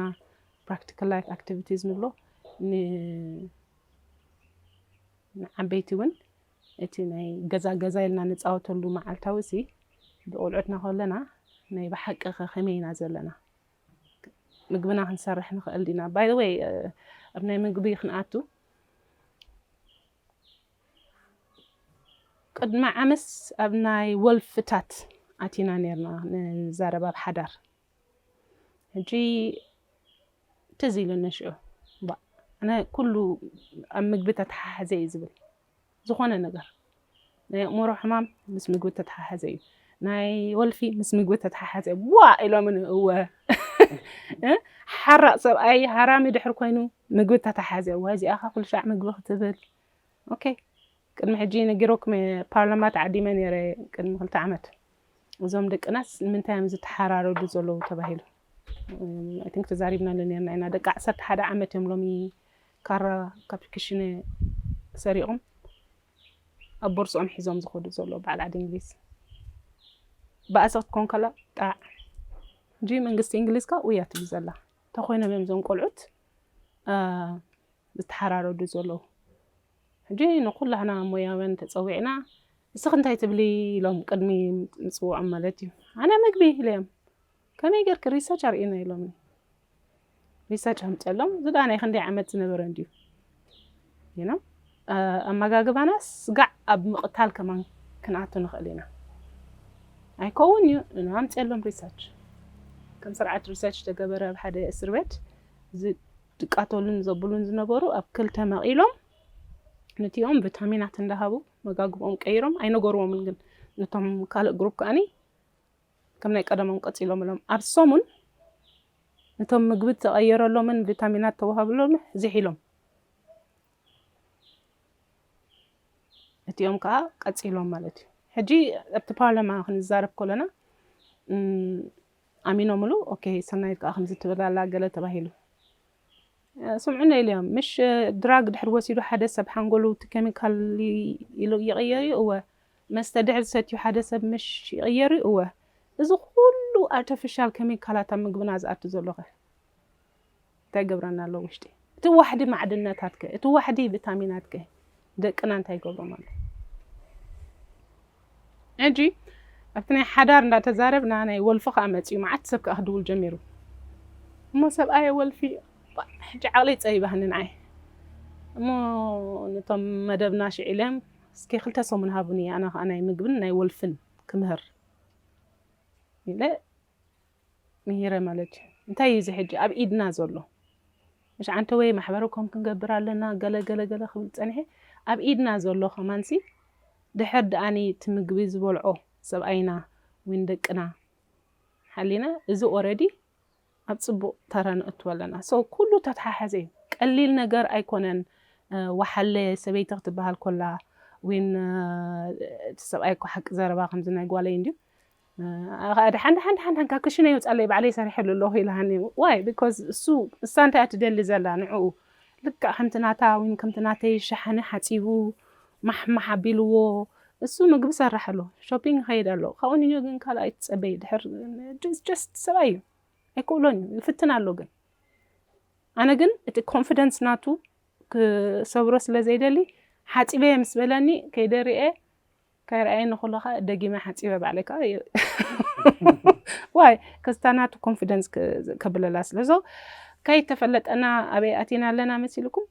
ፕራክቲካል ላይፍ ኣክቲቪቲዝ ንብሎ ንዓበይቲ እውን እቲ ናይ ገዛ ገዛ ኢልና ንፃወተሉ መዓልታዊ እዚ ብቆልዑትና ከለና ናይ ብሓቂ ከመይ ኢና ዘለና ምግብና ክንሰርሕ ንኽእል ዲና ባይ ወይ ኣብ ናይ ምግቢ ክንኣቱ ቅድሚ ዓመስ ኣብ ናይ ወልፍታት ኣቲና ነርና ንዛረብ ኣብ ሓዳር ሕጂ ትዝ ኢሉኒ ሽዑ ባእ ኣነ ኩሉ ኣብ ምግቢ ተተሓሓዘ እዩ ዝብል ዝኾነ ነገር ናይ ኣእምሮ ሕማም ምስ ምግቢ ተተሓሓዘ እዩ ናይ ወልፊ ምስ ምግቢ ተተሓሓዘ እዩ ዋ ኢሎምኒ እወ እ ሓራቕ ሰብኣይ ሃራሚ ድሕር ኮይኑ ምግቢ ተተሓሓዘ እዋ እዚኣኻ ኩሉ ሻዕ ምግቢ ክትብል ኦኬ ቅድሚ ሕጂ ነጊሮኩም እየ ፓርላማ ተዓዲመ ነይረ ቅድሚ ክልተ ዓመት እዞም ደቅናስ ንምንታይ እዮም ዝተሓራረዱ ዘለዉ ተባሂሉ ኣይ ቲንክ ተዛሪብናሉ ነርና ኢና ደቂ ዓሰርተ ሓደ ዓመት እዮም ሎሚ ካራ ካብ ክሽነ ሰሪቖም ኣብ ቦርስኦም ሒዞም ዝኸዱ ዘሎ በዓል ዓዲ እንግሊዝ ብኣሰ ክትኮን ከላ ጣዕ እንጂ መንግስቲ እንግሊዝ ካ ውያ ትብል ዘላ እንተኮይኖም እዮም እዞም ቆልዑት ዝተሓራረዱ ዘለዉ ሕጂ ንኩላህና ሞያውያን ተጸዊዕና ንስኺ እንታይ ትብሊ ኢሎም ቅድሚ ምጽውዖም ማለት እዩ ኣነ ምግቢ ኢለዮም ከመይ ጌርኪ ሪሰርች ኣርእዩና ኢሎምኒ ሪሰርች ኣምጸሎም እዚ ድኣ ናይ ክንደይ ዓመት ዝነበረ እንድዩ ይኖ ኣመጋግባና ስጋዕ ኣብ ምቕታል ከማን ክንኣቱ ንኽእል ኢና ኣይከውን እዩ ን ኣምጸሎም ሪሰርች ከም ስርዓት ሪሰርች ተገበረ ኣብ ሓደ እስር ቤት ዝቃተሉን ዘብሉን ዝነበሩ ኣብ ክልተ መቂሎም ንቲኦም ቪታሚናት እንዳሃቡ መጋግብኦም ቀይሮም ኣይነገርዎምን ግን ነቶም ካልእ ግሩፕ ከዓኒ ከም ናይ ቀደሞም ቀፂሎምሎም ኣብ ሰሙን ነቶም ምግቢ ተቐየረሎምን ቪታሚናት ተዋሃብሎም ዚሒሎም እቲኦም ከዓ ቀፂሎም ማለት እዩ ሕጂ ኣብቲ ፓርላማ ክንዛረብ ከለና ኣሚኖምሉ ኦኬ ሰናይት ከኣ ከምዚ ትብል ኣላ ገለ ተባሂሉ ስምዑና ኢልዮም ምሽ ድራግ ድሕሪ ወሲዱ ሓደ ሰብ ሓንጎሉ እቲ ኬሚካል ኢሉ ይቕየር እዩ እወ መስተ ድሕሪ ሰትዩ ሓደ ሰብ ምሽ ይቕየር እዩ እወ እዚ ኩሉ ኣርተፊሻል ኬሚካላት ኣብ ምግብና ዝኣቱ ዘሎኸ እንታይ ይገብረና ኣሎ ውሽጢ እቲ ዋሕዲ ማዕድናታት ከ እቲ ዋሕዲ ቪታሚናት ከ ደቅና እንታይ ይገብሮም ኣሎ ሕጂ ኣብቲ ናይ ሓዳር እንዳተዛረብና ናይ ወልፊ ከዓ መፅኡ መዓት ሰብ ከዓ ክድውል ጀሚሩ እሞ ሰብኣየ ወልፊ ሕጂ ዓቕለይ ፀቢባህኒ ንዓይ እሞ ነቶም መደብና ሽዒለም እስኪ ክልተ ሰሙን ሃቡኒ ኣነ ከዓ ናይ ምግብን ናይ ወልፍን ክምህር ኢለ ምሂረ ማለት እንታይ እዩ እዚ ሕጂ ኣብ ኢድና ዘሎ ምሽ ዓንተወይ ማሕበረ ኮም ክንገብር ኣለና ገለ ገለ ገለ ክብል ጸኒሐ ኣብ ኢድና ዘሎ ከማንሲ ድሕር ድኣኒ እቲ ምግቢ ዝበልዖ ሰብኣይና ዊን ደቅና ሓሊና እዚ ኦረዲ ኣብ ጽቡቕ ተራ ንእትወ ኣለና ሶ ኩሉ ተተሓሓዘ እዩ ቀሊል ነገር ኣይኮነን ወሓለ ሰበይቲ ክትበሃል ኮላ ዊን እቲ ሰብኣይ እኮ ሓቂ ዘረባ ከምዚ ናይ ጓለይ እንድዩ ዳሓን ዳሓን ዳሓን ዳሓን ካብ ክሽነይ ውጻለይ ባዕለይ ሰሪሐሉ ኣለኹ ኢላኒ ዋይ ቢኮዝ እሱ እሳ እንታይ እያ ትደሊ ዘላ ንዕኡ ልክዕ ከምቲ ናታ ወይ ከምቲ ናተይ ሸሓኒ ሓጺቡ ማሕማሕ ኣቢልዎ እሱ ምግቢ ሰራሕ ኣሎ ሾፒንግ ይኸይድ ኣሎ ካብኡ ንዮ ግን ካልእ ኣይትጸበይ ድሕር ጀስት ሰብኣይ እዩ ኣይክእሎን እዩ ይፍትን ኣሎ ግን ኣነ ግን እቲ ኮንፊደንስ ናቱ ክሰብሮ ስለ ዘይደሊ ሓፂበየ ምስ በለኒ ከይደርኤ ከይርኣየኒ ከሎ ከኣ ደጊመ ሓጺበ ባዕለይ ከኣ ዋይ ከስታ ናቱ ኮንፊደንስ ከብለላ ስለ so ከይተፈለጠና ኣበይ ኣቲና ኣለና መሲልኩም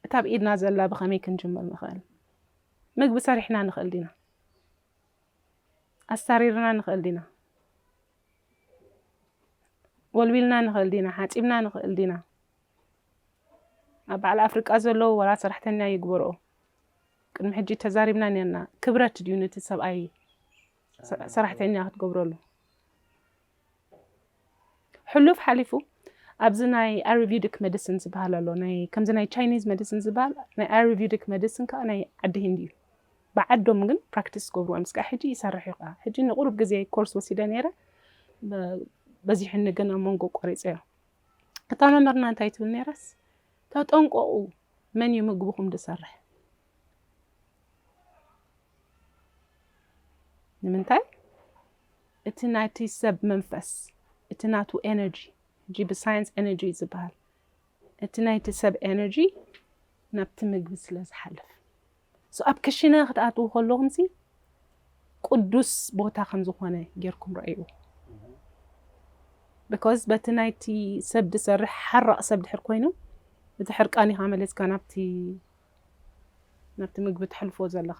እታ ኣብ ኢድና ዘላ ብኸመይ ክንጅምር ንኽእል ምግቢ ሰሪሕና ንኽእል ዲና ኣሳሪርና ንኽእል ዲና ወልዊልና ንኽእል ዲና ሓጺብና ንኽእል ዲና ኣብ በዓል ኣፍርቃ ዘለው ወላ ሰራሕተኛ ይግበርኦ ቅድሚ ሕጂ ተዛሪብና ኔርና ክብረት ድዩ ነቲ ሰብኣይ ሰራሕተኛ ክትገብረሉ ሕሉፍ ሓሊፉ ኣብዚ ናይ ኣሪቪዲክ መዲሲን ዝበሃል ኣሎ ናይ ከምዚ ናይ ቻይኒዝ መዲሲን ዝበሃል ናይ ኣሪቪዲክ መዲሲን ከዓ ናይ ዓዲ ሂንዲ እዩ ብዓዶም ግን ፕራክቲስ ዝገብርዎ ምስ ከዓ ሕጂ ይሰርሕ እዩ ከዓ ሕጂ ንቁሩብ ግዜ ኮርስ ወሲደ ነይረ በዚሑኒ ግን ኣብ መንጎ ቆሪፀዮ እታ መምህርና እንታይ ትብል ነይራስ ተጠንቆቁ መን እዩ ምግብኹም ዝሰርሕ ንምንታይ እቲ ናይቲ ሰብ መንፈስ እቲ ናቱ ኤነርጂ ሕጂ ብሳይንስ ኤነርጂ እዩ ዝበሃል እቲ ናይቲ ሰብ ኤነርጂ ናብቲ ምግቢ ስለ ዝሓልፍ So ኣብ ክሽነ ክትኣትዉ ከለኹምሲ ቅዱስ ቦታ ከም ዝኾነ ጌርኩም ርኣይዎ። Because በቲ ናይቲ ሰብ ዝሰርሕ ሓራቕ ሰብ ድሕር ኮይኑ እቲ ሕርቃኒኻ መሊስካ ናብቲ ናብቲ ምግቢ ተሕልፎ ዘለኻ።